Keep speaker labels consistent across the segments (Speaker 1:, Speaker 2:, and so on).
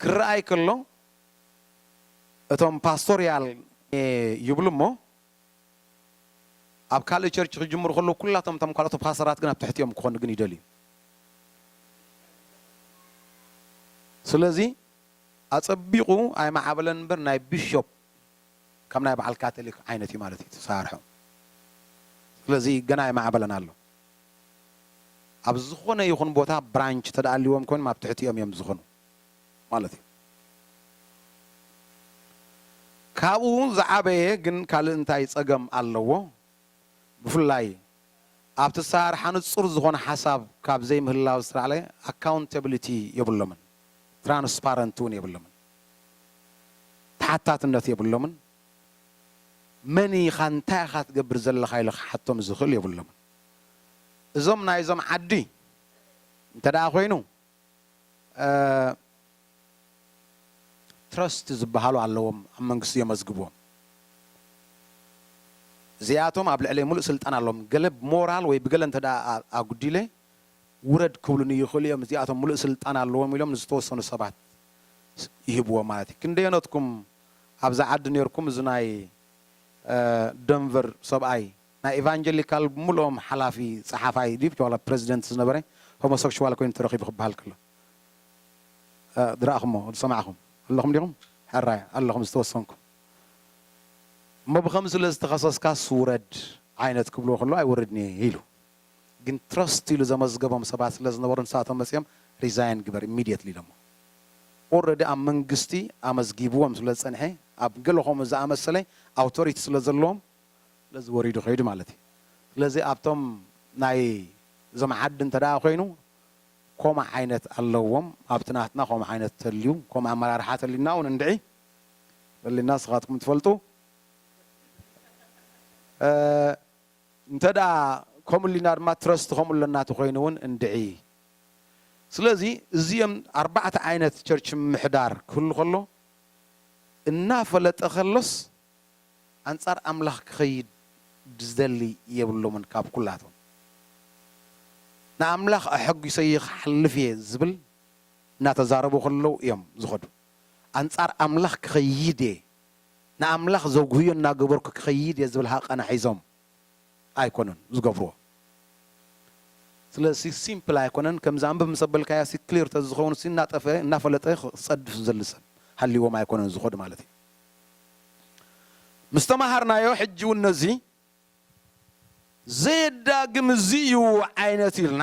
Speaker 1: ክረኣይ ከሎ እቶም ፓስቶርያል ይብሉ እሞ ኣብ ካልእ ቸርች ክጅምሩ ከለዉ ኩላቶም እቶም ካልኦት ፓሰራት ግን ኣብ ትሕቲ እዮም ክኾኑ ግን ይደልዩ ስለዚ ኣጸቢቑ ኣይመዓበለን እምበር ናይ ቢሾፕ ከም ናይ በዓል ካቶሊክ ዓይነት እዩ ማለት እዩ ተሳርሑ ስለዚ ገና ኣይመዓበለን ኣሎ ኣብ ዝኾነ ይኹን ቦታ ብራንች እንተድኣ ኣልዎም ኮይኖም ኣብ ትሕቲኦም እዮም ዝኾኑ ማለት እዩ። ካብኡ ዝዓበየ ግን ካልእ እንታይ ጸገም ኣለዎ? ብፍላይ ኣብቲ ኣሰራርሓ ንጹር ዝኾነ ሓሳብ ካብ ዘይምህላው ዝተላዕለ ኣካውንተብሊቲ የብሎምን፣ ትራንስፓረንት እውን የብሎምን፣ ተሓታትነት የብሎምን። መን ኢኻ እንታይ ኢኻ ትገብር ዘለኻ ኢሉ ክሓቶም ዝኽእል የብሎምን እዞም ናይዞም ዓዲ እንተደኣ ኮይኑ ትረስት ዝበሃሉ ኣለዎም ኣብ መንግስቲ የመዝግብዎም እዚኣቶም ኣብ ልዕለይ ሙሉእ ስልጣን ኣለዎም ገለ ብሞራል ወይ ብገለ እንተደኣ ኣጉዲለ ውረድ ክብሉኒ ይኽእሉ እዮም እዚኣቶም ሙሉእ ስልጣን ኣለዎም ኢሎም ንዝተወሰኑ ሰባት ይህብዎም ማለት እዩ ክንደየኖትኩም ኣብዚ ዓዲ ኔርኩም እዚ ናይ ደንቨር ሰብኣይ ናይ ኢቫንጀሊካል ብምልኦም ሓላፊ ጸሓፋይ ድዩ ብቻ ዋላ ፕረዚደንት ዝነበረ ሆሞሰክሽዋል ኮይኑ ተረኺቡ ክበሃል ከሎ ዝረኣኹሞ ዝሰማዕኹም ኣለኹም ዲኹም ሕራይ ኣለኹም ዝተወሰንኩም እሞ ብኸምዚ ስለ ዝተኸሰስካስ ውረድ ዓይነት ክብልዎ ከለዉ ኣይወርድን'የ ኢሉ። ግን ትረስት ኢሉ ዘመዝገቦም ሰባት ስለ ዝነበሩ ንሳቶም መጺኦም ሪዛይን ግበር ኢሚድየትሊ ኢሎሞ። ኦረዲ ኣብ መንግስቲ ኣመዝጊብዎም ስለ ዝጸንሔ ኣብ ገለ ከምኡ ዝኣመሰለ ኣውቶሪቲ ስለ ዘለዎም ስለዚ ወሪዱ ከይዱ ማለት እዩ። ስለዚ ኣብቶም ናይ እዞም ዓዲ እንተ ኮይኑ ኮምኡ ዓይነት ኣለዎም ኣብቲ ናትና ኮምኡ ዓይነት ተልዩ ኮምኡ ኣመራርሓ ተልዩና ውን እንድዒ በሊና ንስኻትኩም ትፈልጡ። እንተድኣ ከምኡ እልና ድማ ትረስት ከምኡ ኣለና ተኾይኑ እውን እንድዒ። ስለዚ እዚኦም ኣርባዕተ ዓይነት ቸርች ምምሕዳር ክህሉ ከሎ እናፈለጠ ከሎስ ኣንጻር ኣምላኽ ክኸይድ ዝደሊ የብሎምን ካብ ኩላቶም ንኣምላኽ ኣሐጒሰዮ ክሓልፍ እየ ዝብል እናተዛረቡ ከለዉ እዮም ዝኸዱ ኣንጻር ኣምላኽ ክኸይድ እየ ንኣምላኽ ዘጉህዮ እናገበርኩ ክኸይድ እየ ዝብል ሃቐና ሒዞም ኣይኮኑን ዝገብርዎ። ስለዚ ሲምፕል ኣይኮነን ከምዚ ኣንብብ ምስ ኣበልካዮሲ ክሊር ተዝኸውንሲ እናጠፍአ እናፈለጠ ክጸድፍ ዝደሊ ሰብ ሃልይዎም ኣይኮነን ዝኸዱ ማለት እዩ። ምስ ተማሃርናዮ ሕጂ እውን ነዚ ዘየዳግም እዚ እዩ ዓይነት ኢልና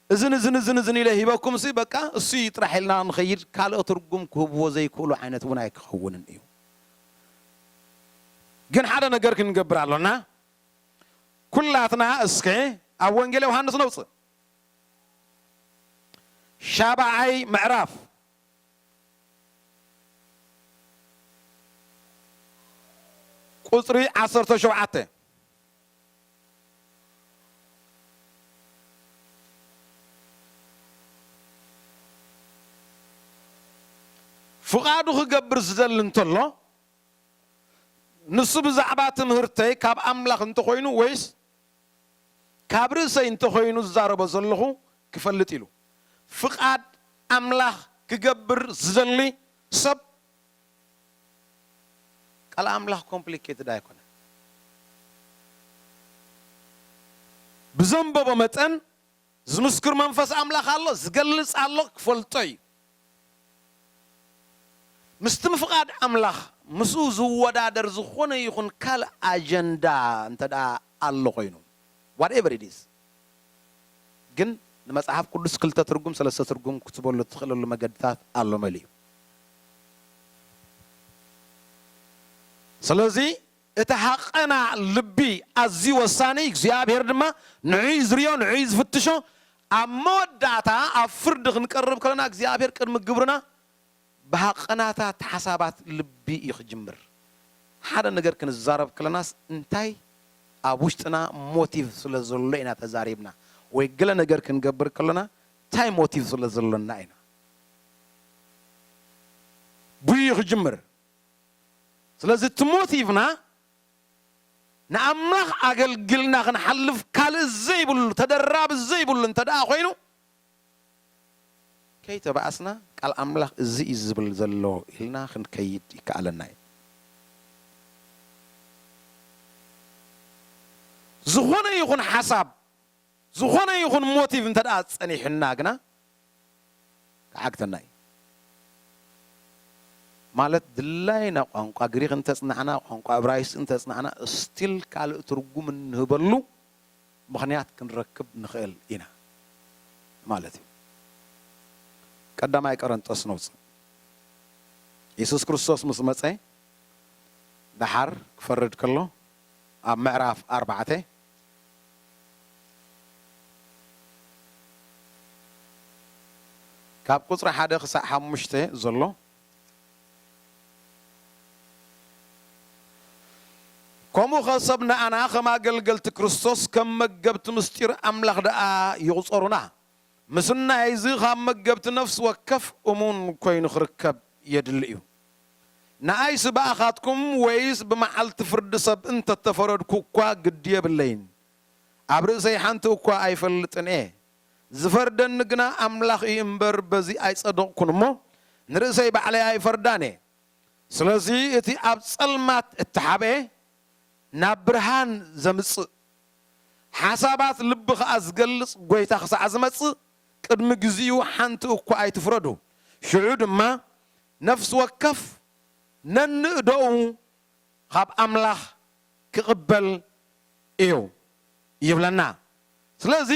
Speaker 1: እዝን እዝን እዝን እዝን ኢለ ሂበኩምሲ በቃ እሱ እዩ ጥራሕ ኢልና ንኸይድ ካልእ ትርጉም ክህብዎ ዘይክእሉ ዓይነት እውን ኣይክኸውንን እዩ። ግን ሓደ ነገር ክንገብር ኣሎና ኩላትና እስከ ኣብ ወንጌል ዮሃንስ ነውጽእ ሻብዓይ ምዕራፍ ቁጽሪ ዓሰርተ ሸውዓተ ፍቓዱ ኺገብር ዚደሊ እንተሎ፣ ንሱ ብዛዕባ ትምህርተይ ካብ ኣምላኽ እንተ ዀይኑ ወይስ ካብ ርእሰይ እንተ ዀይኑ ዝዛረቦ ዘለኹ ኪፈልጥ ኢሉ። ፍቓድ ኣምላኽ ኪገብር ዚደሊ ሰብ ቃል ኣምላኽ ኮምፕሊኬትድ ኣይኮነን። ብዘንበቦ መጠን ዝምስክር መንፈስ ኣምላኽ ኣሎ፣ ዝገልጽ ኣሎ፣ ክፈልጦ እዩ። ምስቲ ምፍቓድ ኣምላኽ ምስኡ ዝወዳደር ዝኾነ ይኹን ካልእ ኣጀንዳ እንተድኣ ኣሎ ኮይኑ፣ ዋትኤቨር ኢት ኢዝ፣ ግን ንመጽሓፍ ቅዱስ ክልተ ትርጉም ሰለስተ ትርጉም ክትበሉ እትኽእለሉ መገድታት ኣሎ መሊኡ። ስለዚ እቲ ሃቐና ልቢ ኣዝዩ ወሳኒ እዩ፣ እግዚኣብሄር ድማ ንዑ እዩ ዝሪኦ ንዑ እዩ ዝፍትሾ። ኣብ መወዳእታ ኣብ ፍርዲ ክንቀርብ ከለና እግዚኣብሄር ቅድሚ ግብርና ብሃቐናታት ሓሳባት ልቢ እዩ ክጅምር። ሓደ ነገር ክንዛረብ ከለናስ እንታይ ኣብ ውሽጥና ሞቲቭ ስለ ዘሎ ኢና ተዛሪብና ወይ ገለ ነገር ክንገብር ከሎና ታይ ሞቲቭ ስለ ዘሎና ኢና ብኡ እዩ ክጅምር። ስለዚ እቲ ሞቲቭና ንኣምላኽ ኣገልግልና ክንሓልፍ ካልእ ዘይብሉ ተደራቢ ዘይብሉ እንተድኣ ኮይኑ፣ ከይተባኣስና ቃል ኣምላኽ እዚ እዩ ዝብል ዘሎ ኢልና ክንከይድ ይከኣለና እዩ። ዝኾነ ይኹን ሓሳብ ዝኾነ ይኹን ሞቲቭ እንተድኣ ጸኒሑና ግና ክዓግተና እዩ። ማለት ድላይና ቋንቋ ግሪኽ እንተጽናዕና ቋንቋ እብራይስጢ እንተጽናዕና ስቲል ካልእ ትርጉም እንህበሉ ምኽንያት ክንረክብ ንኽእል ኢና ማለት እዩ። ቀዳማይ ቀረንጦስ ነውጽእ። የሱስ ክርስቶስ ምስ መጸ ደሓር ክፈርድ ከሎ ኣብ ምዕራፍ ኣርባዕተ ካብ ቁጽሪ ሓደ ክሳዕ ሓሙሽተ ዘሎ ከምኡ ኸ ሰብ ንኣና ኸም ኣገልገልቲ ክርስቶስ ከም መገብቲ ምስጢር ኣምላኽ ደኣ ይቝጸሩና። ምስናይ እዚ ኻብ መገብቲ ነፍሲ ወከፍ እሙን ኮይኑ ኽርከብ የድሊ እዩ። ንኣይሲ ብኣኻትኩም ወይስ ብመዓልቲ ፍርዲ ሰብ እንተ ተፈረድኩ እኳ ግዲ የብለይን፣ ኣብ ርእሰይ ሓንቲ እኳ ኣይፈልጥን እየ፣ ዚፈርደኒ ግና ኣምላኽ እዩ እምበር፣ በዚ ኣይጸደቕኩን እሞ፣ ንርእሰይ ባዕለይ ኣይፈርዳን እየ። ስለዚ እቲ ኣብ ጸልማት እተሓብኤ፣ ናብ ብርሃን ዘምጽእ፣ ሓሳባት ልቢ ኸኣ ዚገልጽ ጐይታ ኽሳዕ ዚመጽእ፣ ቅድሚ ግዚኡ ሓንቲ እኳ ኣይትፍረዱ። ሽዑ ድማ ነፍሲ ወከፍ ነንእደኡ ኻብ ኣምላኽ ክቕበል እዩ ይብለና። ስለዚ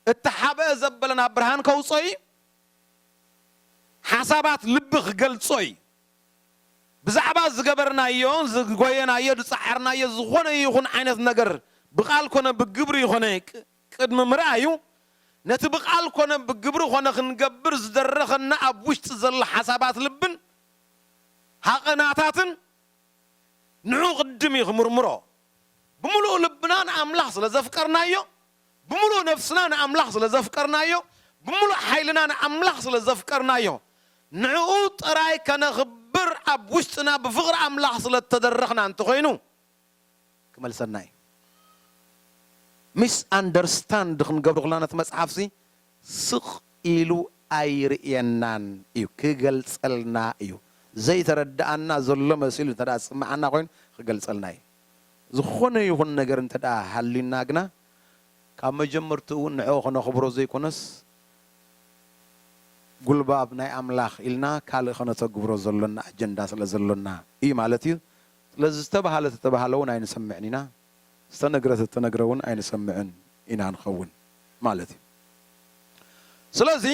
Speaker 1: እቲ ሓብአ ዘበለ ናብ ብርሃን ከውጽኦ እዩ፣ ሓሳባት ልቢ ክገልጾ እዩ። ብዛዕባ ዝገበርናዮ፣ ዝጎየናዮ፣ ዝጸዓርናዮ ዝኾነ ይኹን ዓይነት ነገር ብቃል ኮነ ብግብሪ ኮነ ቅድሚ ምርኣዩ ነቲ ብቃል ኮነ ብግብሪ ኮነ ክንገብር ዝደረኸና ኣብ ውሽጢ ዘሎ ሓሳባት ልብን ሃቐናታትን ንዕኡ ቅድም እዩ ክምርምሮ። ብምሉእ ልብና ንኣምላኽ ስለ ዘፍቀርናዮ፣ ብምሉእ ነፍስና ንኣምላኽ ስለ ዘፍቀርናዮ፣ ብምሉእ ሓይልና ንኣምላኽ ስለ ዘፍቀርናዮ፣ ንዕኡ ጥራይ ከነኽብር ኣብ ውሽጥና ብፍቕሪ ኣምላኽ ስለ እተደረኽና እንተኾይኑ፣ ክመልሰና እዩ ሚስ ኣንደርስታንድ ክንገብሮ ከለና ነቲ መጽሓፍሲ ስቅ ኢሉ ኣይርእየናን እዩ ክገልጸልና እዩ ዘይተረደኣና ዘሎ መሲሉ እንተ ዝስመዓና ኮይኑ ክገልጸልና እዩ ዝኾነ ይኹን ነገር እንተ ሃልዩና ግና ካብ መጀመርትኡ ውን ንዕኡ ከነኽብሮ ዘይኮነስ ጉልባብ ናይ ኣምላኽ ኢልና ካልእ ከነተግብሮ ዘሎና ኣጀንዳ ስለ ዘሎና እዩ ማለት እዩ ስለዚ ዝተባህለ እተተባህለ እውን ኣይንሰምዕን ኢና፣ ዝተነግረ እተተነግረ እውን ኣይንሰምዕን ኢና ንኸውን ማለት እዩ። ስለዚ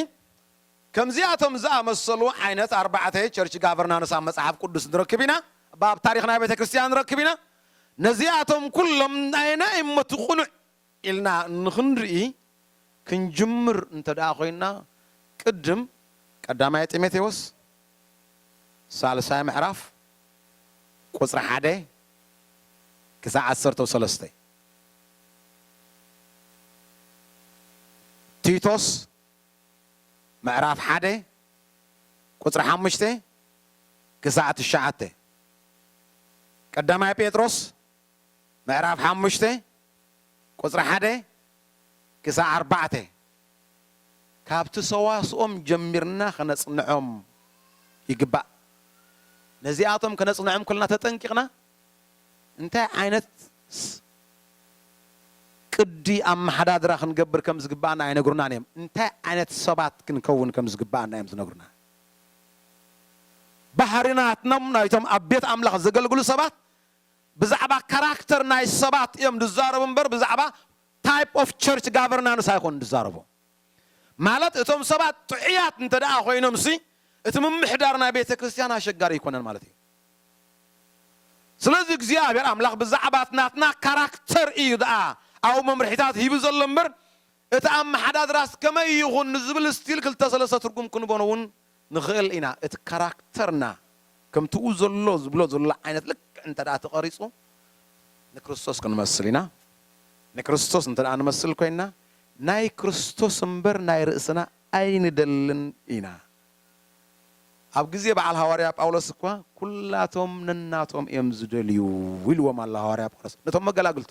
Speaker 1: ከምዚኣቶም ዝኣመሰሉ ዓይነት ኣርባዕተ ቸርች ጋቨርናንስ ኣብ መጽሓፍ ቅዱስ ንረክብ ኢና፣ እባ ኣብ ታሪኽ ናይ ቤተ ክርስትያን ንረክብ ኢና። ነዚኣቶም ኩሎም ኣየናይ እሞ እቲ ቅኑዕ ኢልና እንክንርኢ ክንጅምር እንተድኣ ኮይና ቅድም ቀዳማይ ጢሞቴዎስ ሳልሳይ ምዕራፍ ቁጽሪ ሓደ ክሳዕ ዓሰርተው ሰለስተ፣ ቲቶስ ምዕራፍ ሓደ ቁጽሪ ሓሙሽተ ክሳዕ ትሽዓተ፣ ቀዳማይ ጴጥሮስ ምዕራፍ ሓሙሽተ ቍጽሪ ሓደ ክሳዕ ኣርባዕተ፣ ካብቲ ሰዋስኦም ጀሚርና ኸነጽንዖም ይግባእ። ነዚኣቶም ከነጽንዖም ከሎና ተጠንቂቕና እንታይ ዓይነት ቅዲ ኣመሓዳድራ ክንገብር ከም ዝግብኣና ኣይነግሩናን እዮም። እንታይ ዓይነት ሰባት ክንከውን ከም ዝግብኣና እዮም ዝነግሩና። ባህርናትኖም ናይቶም ኣብ ቤት ኣምላኽ ዘገልግሉ ሰባት ብዛዕባ ካራክተር ናይ ሰባት እዮም ዝዛረቡ እምበር ብዛዕባ ታይፕ ኦፍ ቸርች ጋቨርናንስ ኣይኮኑን ዝዛረቡ። ማለት እቶም ሰባት ጥዑያት እንተደኣ ኮይኖምሲ እቲ ምምሕዳር ናይ ቤተ ክርስቲያን ኣሸጋሪ ኣይኮነን ማለት እዩ። ስለዚ እግዚኣብሔር ኣምላኽ ብዛዕባ ናትና ካራክተር እዩ ደኣ ኣብኡ መምርሒታት ሂቡ ዘሎ እምበር እቲ ኣመሓዳድራስ ከመይ ይኹን ንዝብል ስቲል ክልተ ሰለስተ ትርጉም ክንበኖ እውን ንኽእል ኢና። እቲ ካራክተርና ከምቲ ኡ ዘሎ ዝብሎ ዘሎ ዓይነት ልክዕ እንተድኣ ተቐሪጹ ንክርስቶስ ክንመስል ኢና። ንክርስቶስ እንተድኣ ንመስል ኮይንና ናይ ክርስቶስ እምበር ናይ ርእስና ኣይንደልን ኢና። ኣብ ግዜ በዓል ሃዋርያ ጳውሎስ እኳ ኩላቶም ነናቶም እዮም ዝደልዩ ኢልዎም ኣሎ ሃዋርያ ጳውሎስ ነቶም መገላግልቱ።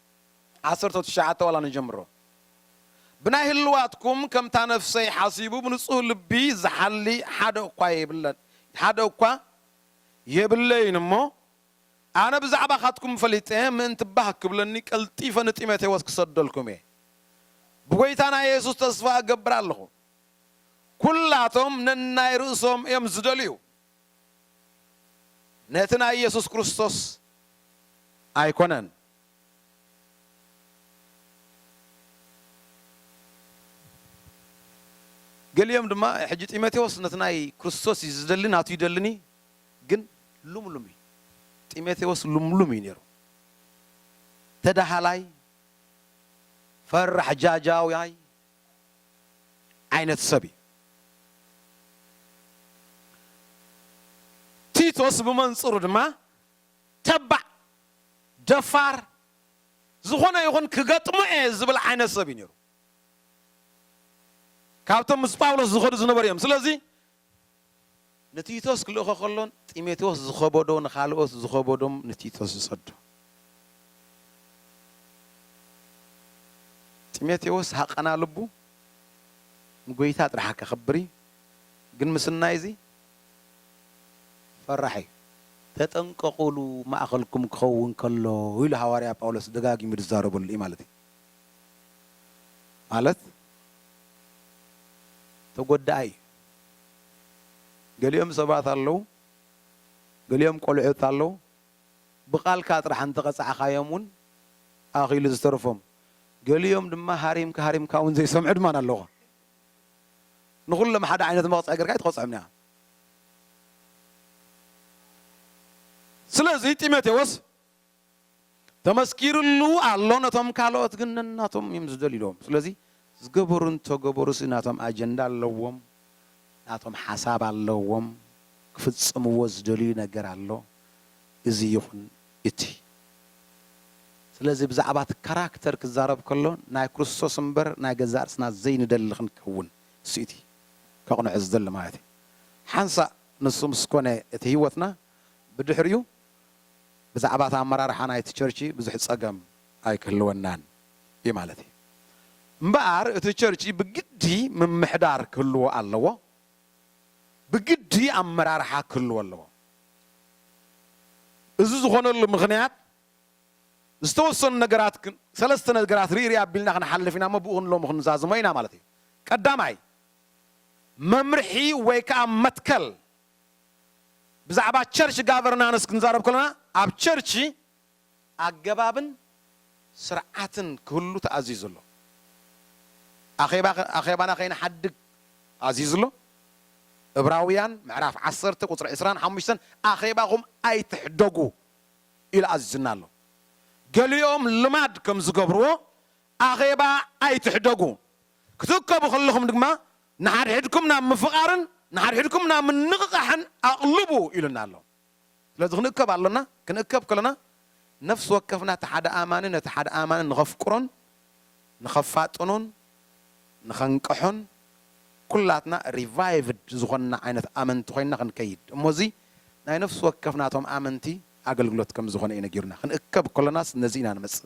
Speaker 1: ዓሰርተው ትሽዓተ ዋላ ንጀምሮ ብናይ ህልዋትኩም ከምታ ነፍሰይ ሓሲቡ ብንጹህ ልቢ ዝሓሊ ሓደ እኳ የብለን ሓደ እኳ የብለይን እሞ ኣነ ብዛዕባኻትኩም ፈሊጠ ምእንቲ ባህ ክብለኒ ቀልጢፈ ንጢሞቴዎስ ክሰደልኩም እየ ብጐይታና የሱስ ተስፋ እገብር ኣለኹ ኵላቶም ነናይ ርእሶም እዮም ዝደልዩ ነቲ ናይ ኢየሱስ ክርስቶስ ኣይኮነን። ገሊኦም ድማ ሕጂ ጢሞቴዎስ ነቲ ናይ ክርስቶስ እዩ ዝደሊ ናቱ ይደልኒ ግን ሉምሉም እዩ ጢሞቴዎስ ሉምሉም እዩ ነይሩ ተዳሃላይ ፈራሕ ጃጃውያይ ዓይነት ሰብ እዩ። ቲቶስ ብመንጽሩ ድማ ተባዕ፣ ደፋር፣ ዝኾነ ይኹን ክገጥሞ እየ ዝብል ዓይነት ሰብ እዩ ነይሩ። ካብቶም ምስ ጳውሎስ ዝኸዱ ዝነበሩ እዮም። ስለዚ ንቲቶስ ክልእኾ ከሎን ጢሞቴዎስ ዝኸበዶ ንኻልኦት ዝኸበዶም ንቲቶስ ዝሰዶ። ጢሞቴዎስ ሃቀና ልቡ ንጐይታ ጥራሕ ከኽብር እዩ፣ ግን ምስናይ እዚ ፈራሕ እዩ። ተጠንቀቑሉ ማእከልኩም ክኸውን ከሎ ኢሉ ሃዋርያ ጳውሎስ ደጋጊሙ ዝዛረበሉ እዩ ማለት እዩ። ማለት ተጐዳኣይ እዩ። ገሊኦም ሰባት ኣለዉ፣ ገሊኦም ቆልዑት ኣለዉ፣ ብቓልካ ጥራሕ እንተ ቐጻዕካዮም ውን ኣኺሉ ዝተርፎም፣ ገሊኦም ድማ ሃሪምካ ሃሪምካ ውን ዘይሰምዑ ድማ ኣለዉ። ንኹሎም ሓደ ዓይነት መቕጽዒ ጌርካ ኣይትቐጽዖምን ኢኻ። ስለዚ ጢሞቴዎስ ተመስኪርሉ ኣሎ ነቶም ካልኦት ግን ነናቶም እዮም ዝደልዩሎም ስለዚ ዝገበሩ እንተገበሩሲ ናቶም ኣጀንዳ ኣለዎም ናቶም ሓሳብ ኣለዎም ክፍጽምዎ ዝደልዩ ነገር ኣሎ እዚ ይኹን እቲ ስለዚ ብዛዕባቲ ካራክተር ክዛረብ ከሎ ናይ ክርስቶስ እምበር ናይ ገዛእ ርእስና ዘይንደሊ ክንከውን እሱ እቲ ከቕንዖ ዝደሊ ማለት እዩ ሓንሳእ ንሱ ምስ ኮነ እቲ ህይወትና ብድሕሪኡ ብዛዕባ እቲ ኣመራርሓ ናይቲ ቸርቺ ብዙሕ ጸገም ኣይክህልወናን እዩ ማለት እዩ። እምበኣር እቲ ቸርቺ ብግዲ ምምሕዳር ክህልዎ ኣለዎ፣ ብግዲ ኣመራርሓ ክህልዎ ኣለዎ። እዚ ዝኾነሉ ምኽንያት ዝተወሰኑ ነገራት ክን ሰለስተ ነገራት ርኢርእ ኣቢልና ክንሓልፍ ኢና እሞ ብኡ ክንሎሚ ክንዛዝሞ ኢና ማለት እዩ። ቀዳማይ መምርሒ ወይ ከኣ መትከል ብዛዕባ ቸርች ጋቨርናንስ ክንዛረብ ከሎና ኣብ ቸርች ኣገባብን ስርዓትን ክህሉ ተኣዚዙ ኣሎ። ኣኼባ ኣኼባና ከይንሓድግ ኣዚዙ ኣሎ። እብራውያን ምዕራፍ ዓሰርተ ቁጽሪ ዕስራን ሓሙሽተን ኣኼባኹም ኣይትሕደጉ ኢሉ ኣዚዙና ኣሎ። ገሊኦም ልማድ ከም ዝገብርዎ ኣኼባ ኣይትሕደጉ ክትእከቡ ከለኹም ድማ ንሓድሕድኩም ናብ ምፍቓርን ንሓድሕድኩም ናብ ምንቕቓሕን ኣቕልቡ ኢሉና ኣሎ። ስለዚ ክንእከብ ኣሎና፣ ክንእከብ ከሎና ነፍሲ ወከፍና እቲ ሓደ ኣማኒ ነቲ ሓደ ኣማኒ ንኸፍቅሮን ንኸፋጥኖን ንኸንቅሖን ኩላትና ሪቫይቭድ ዝኾንና ዓይነት ኣመንቲ ኮይንና ክንከይድ እሞ እዚ ናይ ነፍሲ ወከፍና እቶም ኣመንቲ ኣገልግሎት ከም ዝኾነ እዩ ነጊሩና። ክንእከብ ከሎናስ ነዚ ኢና ንመጽእ፣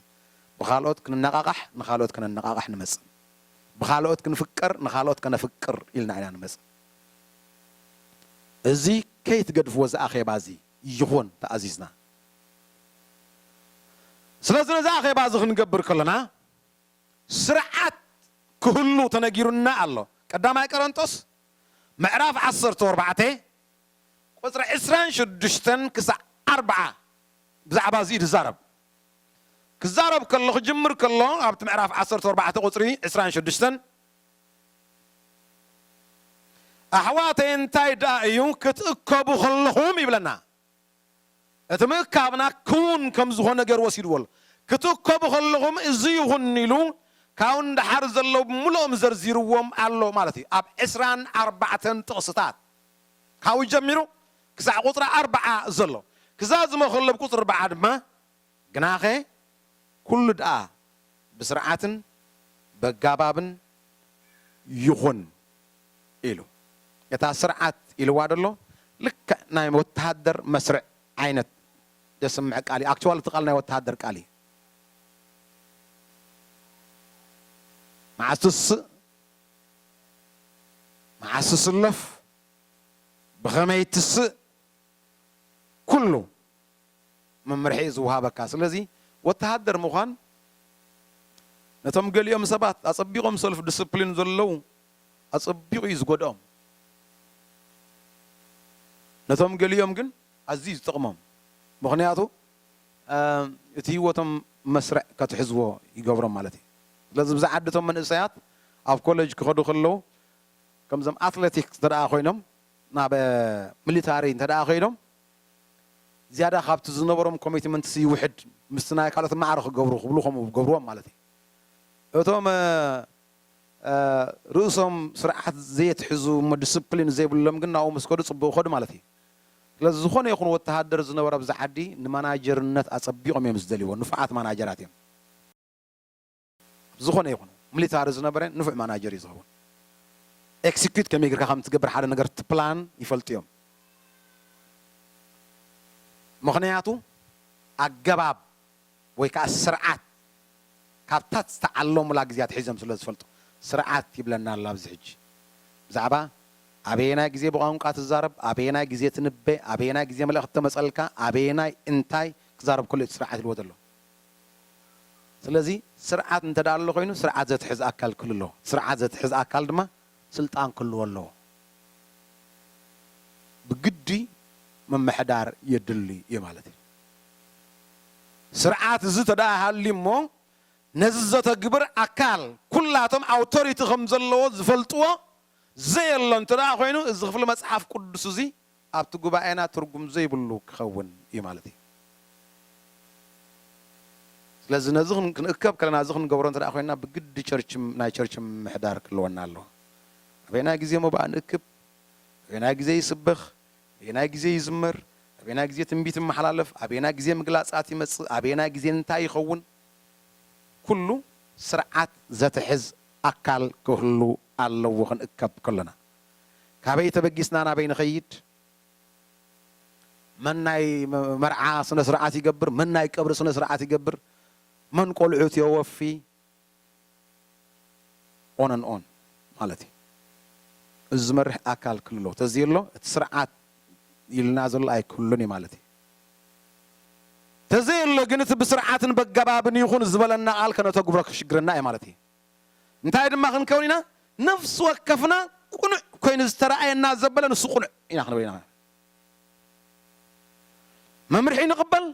Speaker 1: ብኻልኦት ክንነቓቓሕ ንኻልኦት ከነነቓቕሕ ንመጽእ። ብኻልኦት ክንፍቀር ንኻልኦት ከነፍቅር ኢልና ኢና ንመጽእ። እዚ ከይትገድፍዎ እዚ ኣኼባ እዚ ይኹን ተኣዚዝና። ስለዚ ነዚ ኣኼባ እዚ ክንገብር ከሎና ስርዓት ክህሉ ተነጊሩና ኣሎ። ቀዳማይ ቀረንጦስ ምዕራፍ ዓሰርተ ኣርባዕተ ቁጽሪ ዕስራን ሽዱሽተን ክሳዕ ኣርብዓ ብዛዕባ እዚ እዩ ዝዛረብ። ክዛረብ ከሎ ክጅምር ከሎ ኣብቲ ምዕራፍ ዓሰርተ ኣርባዕተ ቁጽሪ ዕስራን ሽዱሽተን ኣሕዋተይ እንታይ ደኣ እዩ ክትእከቡ ከለኹም ይብለና እቲ ምእካብና ክውን ከም ዝኾነ ገይሩ ወሲድዎ ኣሎ ክትእከቡ ከለኹም እዚ ይኹን ኢሉ ካብኡ ንደሓር ዘለዉ ብምልኦም ዘርዚርዎም ኣሎ ማለት እዩ ኣብ ዕስራን ኣርባዕተን ጥቕስታት ካብኡ ጀሚሩ ክሳዕ ቍጽሪ ኣርብዓ ዘሎ ክዛዝሞ ከሎ ኣብ ቍጽሪ ኣርብዓ ድማ ግናኸ ኵሉ ደኣ ብስርዓትን በጋባብን ይኹን ኢሉ። እታ ስርዓት ኢልዋ ዘሎ ልክዕ ናይ ወተሃደር መስርዕ ዓይነት ዘስምዕ ቃል እዩ። ኣክችዋሊ እቲ ቃል ናይ ወተሃደር ቃል እዩ። መዓስ ትስእ መዓስ ትስለፍ ብኸመይ ትስእ ኩሉ መምርሒ እዩ ዝወሃበካ። ስለዚ ወተሃደር ምዃን ነቶም ገሊኦም ሰባት ኣጸቢቖም ሰልፍ ዲስፕሊን ዘለዉ ኣጸቢቑ እዩ ዝጎድኦም፣ ነቶም ገሊኦም ግን ኣዝዩ እዩ ዝጠቕሞም። ምኽንያቱ እቲ ህይወቶም መስርዕ ከትሕዝዎ ይገብሮም ማለት እዩ። ስለዚ እብዛ ዓዲ እቶም መንእሰያት ኣብ ኮለጅ ክኸዱ ከለዉ ከምዞም ኣትለቲክስ እንተደኣ ኮይኖም ናብ ሚሊታሪ እንተደኣ ከይዶም ዝያዳ ካብቲ ዝነበሮም ኮሚትመንትስ ይውሕድ ምስቲ ናይ ካልኦት ማዕረ ክገብሩ ክብሉ ከምኡ ክገብርዎም ማለት እዩ እቶም ርእሶም ስርዓት ዘየትሕዙ እሞ ዲስፕሊን ዘይብሎም ግን ናብኡ ምስ ከዱ ጽቡቕ ይኸዱ ማለት እዩ ስለዚ ዝኾነ ይኹን ወተሃደር ዝነበረ ኣብዚ ዓዲ ንማናጀርነት ኣጸቢቖም እዮም ዝደልይዎ ንፉዓት ማናጀራት እዮም። ዝኾነ ይኹን ምሊታሪ ዝነበረ ንፉዕ ማናጀር እዩ ዝኸውን። ኤክሲኪዩት ከመይ ጌርካ ከም እትገብር ሓደ ነገር ትፕላን ይፈልጡ እዮም። ምኽንያቱ ኣገባብ ወይ ከኣ ስርዓት ካብታ ዝተዓለሙላ ግዜ ኣትሒዞም ስለ ዝፈልጡ። ስርዓት ይብለና ኣሎ ኣብዚ ሕጂ ብዛዕባ ኣበየናይ ግዜ ብቋንቋ ትዛረብ፣ ኣበየናይ ግዜ ትንበ፣ ኣበየናይ ግዜ መልእኽቲ ተመጸልካ፣ ኣበየናይ እንታይ ክዛረብ ከሎ እዩ እቲ ስርዓት ኢልዎ ዘሎ። ስለዚ ስርዓት እንተድኣ ኣሎ ኮይኑ ስርዓት ዘትሕዝ ኣካል ክህሉ ኣለዎ። እቲ ስርዓት ዘትሕዝ ኣካል ድማ ስልጣን ክህልዎ ኣለዎ። ብግዲ ምምሕዳር የድሊ እዩ ማለት እዩ። ስርዓት እዚ ተድኣ ሃልዩ እሞ ነዚ ዘተግብር ኣካል ኩላቶም ኣውቶሪቲ ከም ዘለዎ ዝፈልጥዎ ዘየሎ እንተድኣ ኮይኑ እዚ ክፍሊ መጽሓፍ ቅዱስ እዚ ኣብቲ ጉባኤና ትርጉም ዘይብሉ ክኸውን እዩ ማለት እዩ። ስለዚ ነዚ ክንእከብ ከለና እዚ ክንገብሮ እንተድኣ ኮይንና ብግዲ ቸርች ናይ ቸርች ምምሕዳር ክህልወና ኣለዎ። ኣበየናይ ግዜ መባእ ንእክብ፣ ኣበየናይ ግዜ ይስበኽ፣ ኣበየናይ ግዜ ይዝመር፣ ኣበየናይ ግዜ ትንቢት ይመሓላለፍ፣ ኣበየናይ ግዜ ምግላጻት ይመጽእ፣ ኣበየናይ ግዜ እንታይ ይኸውን ኩሉ ስርዓት ዘትሕዝ ኣካል ክህሉ ኣለዎ ክንእከብ ከሎና። ካበይ ተበጊስና ናበይ ንኸይድ? መን ናይ መርዓ ስነ ስርዓት ይገብር? መን ናይ ቀብሪ ስነ ስርዓት ይገብር? መን ቆልዑት የወፊ? ኦን ኣን ኦን ማለት እዩ። እዚ ዝመርሕ ኣካል ክልሎ ተዘየሎ እቲ ስርዓት ኢልና ዘሎ ኣይክህሉን እዩ ማለት እዩ። ተዘየሎ ግን እቲ ብስርዓትን በገባብን ይኹን ዝበለና ቃል ከነተግብሮ ከሽግረና እዩ ማለት እዩ። እንታይ ድማ ክንከውን ኢና? ነፍሲ ወከፍና ቅኑዕ ኰይኑ ዝተራእየና ዘበለ ንሱ ቅኑዕ ኢና ክንብል ኢና። መምርሒ ንቕበል፣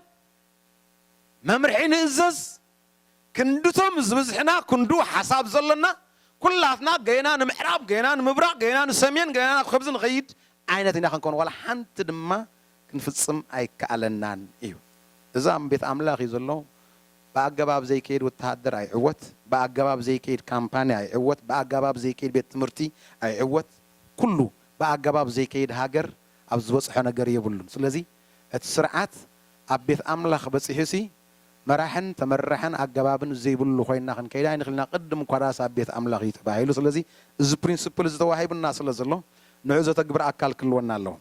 Speaker 1: መምርሒ ንእዘዝ፣ ክንድቶም ዝብዝሕና ክንድኡ ሓሳብ ዘሎና፣ ኵላትና ገና ንምዕራብ፣ ገና ንምብራቕ፣ ገና ንሰሜን፣ ገና ናብ ከብዚ ንኸይድ ዓይነት ኢና ክንከውን፣ ዋላ ሓንቲ ድማ ክንፍጽም ኣይከኣለናን እዩ። እዚ ኣብ ቤት ኣምላኽ እዩ ዘሎ። ብኣገባብ ዘይከይድ ወተሃደር ኣይዕወት፣ ብኣገባብ ዘይከይድ ካምፓኒ ኣይዕወት፣ ብኣገባብ ዘይከይድ ቤት ትምህርቲ ኣይዕወት፣ ኩሉ ብኣገባብ ዘይከይድ ሃገር ኣብ ዝበጽሖ ነገር የብሉን። ስለዚ እቲ ስርዓት ኣብ ቤት ኣምላኽ በጺሑሲ መራሕን ተመራሕን ኣገባብን ዘይብሉ ኮይና ክንከይድ ኣይንኽእልን ኢና፣ ቅድም እኳዳስ ኣብ ቤት ኣምላኽ እዩ ተባሂሉ። ስለዚ እዚ ፕሪንስፕል እዚ ተዋሂቡና ስለዘሎ ንዑኡ ዘተግብር ኣካል ክህልወና ኣለዎ።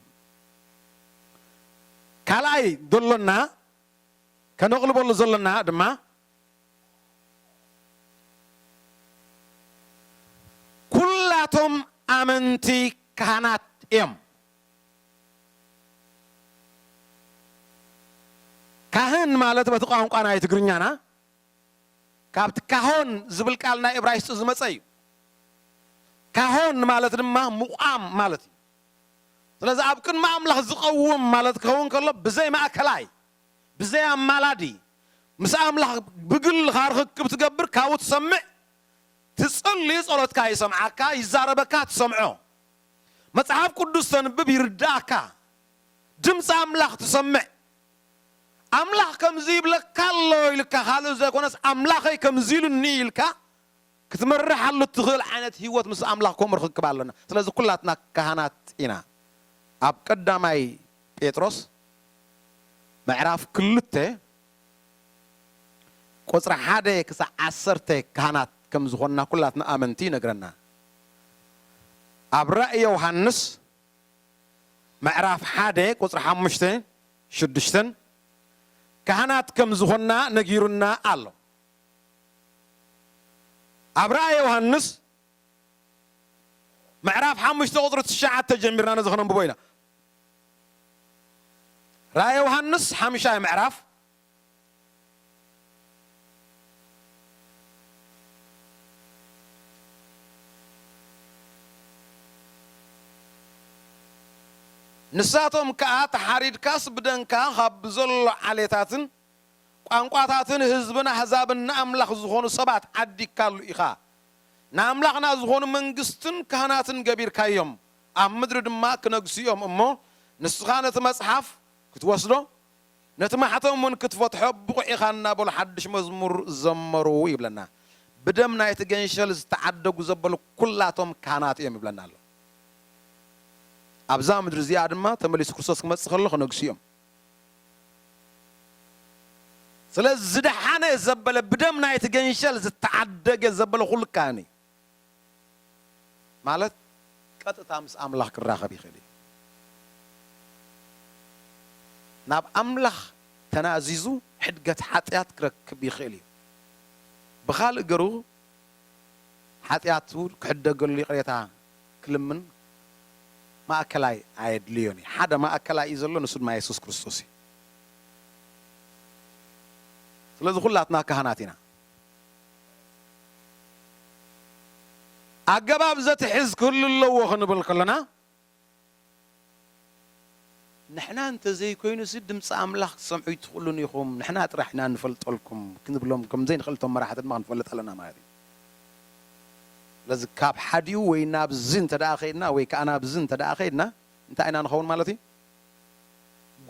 Speaker 1: ካልኣይ ዘሎና ከነቕልበሉ ዘሎና ድማ ኩላቶም ኣመንቲ ካህናት እዮም። ካህን ማለት በቲ ቋንቋ ናይ ትግርኛና ካብቲ ካሆን ዝብል ቃል ናይ እብራይስጢ ዝመጸ እዩ። ካሆን ማለት ድማ ምቛም ማለት እዩ። ስለዚ ኣብ ቅድሚ ኣምላኽ ዝቐውም ማለት ክኸውን ከሎ ብዘይ ማእከላይ ብዘይ ኣማላዲ ምስ ኣምላኽ ብግልኻ ርኽክብ ትገብር ካብኡ ትሰምዕ ትጽሊ ጸሎትካ ይሰምዓካ ይዛረበካ ትሰምዖ መጽሓፍ ቅዱስ ተንብብ ይርድኣካ ድምጺ ኣምላኽ ትሰምዕ ኣምላኽ ከምዚ ይብለካ ኣሎ ኢልካ ካልእ ዘይኮነስ ኣምላኸይ ከምዚ ኢሉኒ ኢልካ ክትመርሓሉ እትኽእል ዓይነት ህይወት ምስ ኣምላኽ ከምኡ ርኽክብ ኣሎና። ስለዚ ኩላትና ካህናት ኢና። ኣብ ቀዳማይ ጴጥሮስ ምዕራፍ ክልተ ቁጽሪ ሓደ ክሳዕ ዓሰርተ ካህናት ከም ዝኾንና ኩላትና ኣመንቲ ይነግረና። ኣብ ራእይ ዮውሃንስ ምዕራፍ ሓደ ቁጽሪ ሓሙሽተ ሽዱሽተን ካህናት ከም ዝኾንና ነጊሩና ኣሎ። ኣብ ራእየ ዮሃንስ ምዕራፍ ሓሙሽተ ቁፅሪ ትሽዓተ ጀሚርና ነዚ ክነንብቦ ኢና። ራእየ ዮሃንስ ሓምሻይ ምዕራፍ ንሳቶም ከዓ ተሓሪድካስ ብደንካ ካብ ብዘሎ ዓሌታትን ቋንቋታትን ህዝብን ኣህዛብን ንኣምላኽ ዝኾኑ ሰባት ዓዲግካሉ ኢኻ። ንኣምላኽና ዝኾኑ መንግስትን ካህናትን ገቢርካዮም፣ ኣብ ምድሪ ድማ ክነግሱ እዮም እሞ፣ ንስኻ ነቲ መጽሓፍ ክትወስዶ፣ ነቲ ማሕተም እውን ክትፈትሖ ብቑዕ ኢኻ እናበሉ ሓድሽ መዝሙር ዘመሩ ይብለና። ብደም ናይቲ ገንሸል ዝተዓደጉ ዘበሉ ኩላቶም ካህናት እዮም ይብለና ኣሎ። ኣብዛ ምድሪ እዚኣ ድማ ተመሊሱ ክርስቶስ ክመጽእ ከሎ ክነግሱ እዮም። ስለዚ ዝደሓነ ዘበለ ብደም ናይቲ ገንሸል ዝተዓደገ ዘበለ ኩሉ ካህን እዩ ማለት ቀጥታ ምስ ኣምላኽ ክራኸብ ይኽእል እዩ። ናብ ኣምላኽ ተናዚዙ ሕድገት ሓጢኣት ክረክብ ይኽእል እዩ። ብኻልእ ገሩ ሓጢኣቱ ክሕደገሉ ይቕሬታ ክልምን ማእከላይ ኣየድልዮን እዩ ሓደ ማእከላይ እዩ ዘሎ ንሱ ድማ የሱስ ክርስቶስ እዩ ስለዚ ኩላትና ካህናት ኢና ኣገባብ ዘትሕዝ ክህሉ ኣለዎ ክንብል ከለና ንሕና እንተ ዘይኮይኑሲ ድምጺ ኣምላኽ ክትሰምዑ ኣይትኽእሉን ኢኹም፣ ንሕና ጥራሕ ኢና እንፈልጠልኩም ክንብሎም ከም ዘይንኽእል እቶም መራሕቲ ድማ ክንፈልጥ ኣለና ማለት እዩ። ስለዚ ካብ ሓዲኡ ወይ ናብዚ እንተ ደኣ ከይድና ወይ ከኣ ናብዚ እንተ ደኣ ከይድና እንታይ ኢና ንኸውን ማለት እዩ?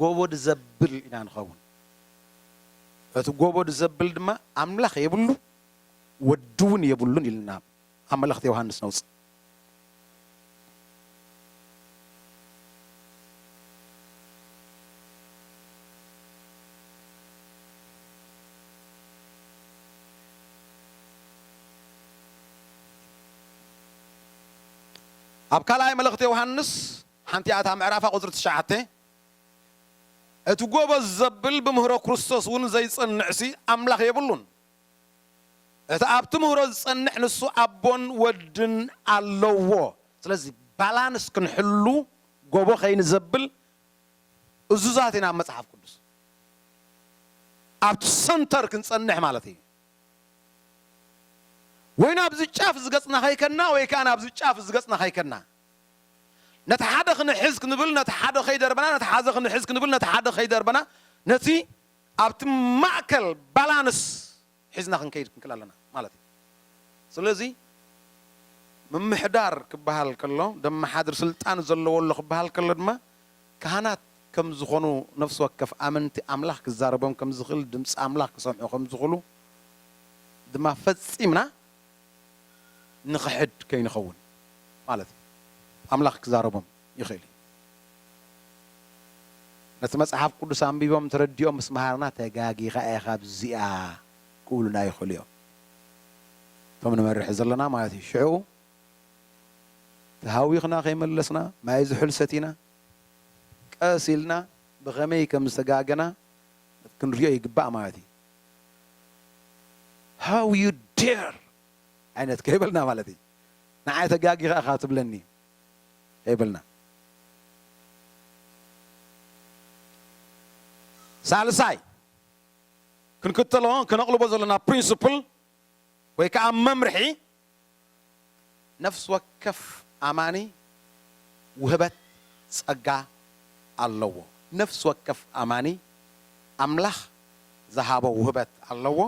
Speaker 1: ጎቦድ ዘብል ኢና ንኸውን። እቲ ጎቦድ ዘብል ድማ ኣምላኽ የብሉ ወዲ እውን የብሉን ኢልና ኣብ መልእኽቲ ዮሃንስ ነውጽእ። ኣብ ካልኣይ መልእኽቲ ዮሃንስ ሓንቲኣ እታ ምዕራፋ ቁጽሪ ትሽዓተ እቲ ጎበዝ ዘብል ብምህሮ ክርስቶስ እውን ዘይጸንዕሲ ኣምላኽ የብሉን እቲ ኣብቲ ምህሮ ዝጸንሕ ንሱ ኣቦን ወድን ኣለዎ ስለዚ ባላንስ ክንሕሉ ጎቦ ከይንዘብል እዙዛት ኢና ኣብ መጽሓፍ ቅዱስ ኣብቲ ሰንተር ክንጸንሕ ማለት እዩ ወይ ናብዚ ጫፍ ዝገጽና ከይከና ወይ ከኣ ናብዚ ጫፍ ዝገጽና ከይከና ነቲ ሓደ ክንሕዝ ክንብል ነቲ ሓደ ከይደርበና ነቲ ሓዘ ክንሕዝ ክንብል ነቲ ሓደ ከይደርበና ነቲ ኣብቲ ማእከል ባላንስ ሒዝና ክንከይድ ክንክእል ኣለና ማለት እዩ። ስለዚ ምምሕዳር ክበሃል ከሎ ደመሓድር ስልጣን ዘለዎ ኣሎ ክበሃል ከሎ ድማ ካህናት ከም ዝኾኑ ነፍሲ ወከፍ ኣመንቲ ኣምላኽ ክዛረቦም ከም ዝኽእል ድምጺ ኣምላኽ ክሰምዑ ከም ዝኽእሉ ድማ ፈጺምና ንኽሕድ ከይንኸውን ማለት እዩ። ኣምላኽ ክዛረቦም። ይኽእል እዩ። ነቲ መጽሓፍ ቅዱስ ኣንቢቦም ተረዲኦም ምስ መሃርና ተጋጊኻ ኢኻ ኣብዚኣ ክብሉና ይኽእሉ እዮም፣ እቶም ንመርሕ ዘለና ማለት እዩ። ሽዑ ተሃዊኽና ከይመለስና ማይ ዝሑል ሰቲና ቀስ ኢልና ብኸመይ ከም ዝተጋገና ክንሪኦ ይግባእ ማለት እዩ። How you dare ዓይነት ከይበልና ማለት እዩ። ንዓይ ተጋጊኻ ኢኻ ትብለኒ የብልናን። ሳልሳይ ክንክተሎ ከነቕልቦ ዘለና ፕሪንስፕል ወይ ከዓ መምርሒ ነፍሲ ወከፍ ኣማኒ ውህበት ፀጋ ኣለዎ። ነፍሲ ወከፍ ኣማኒ ኣምላኽ ዝሃቦ ውህበት ኣለዎ።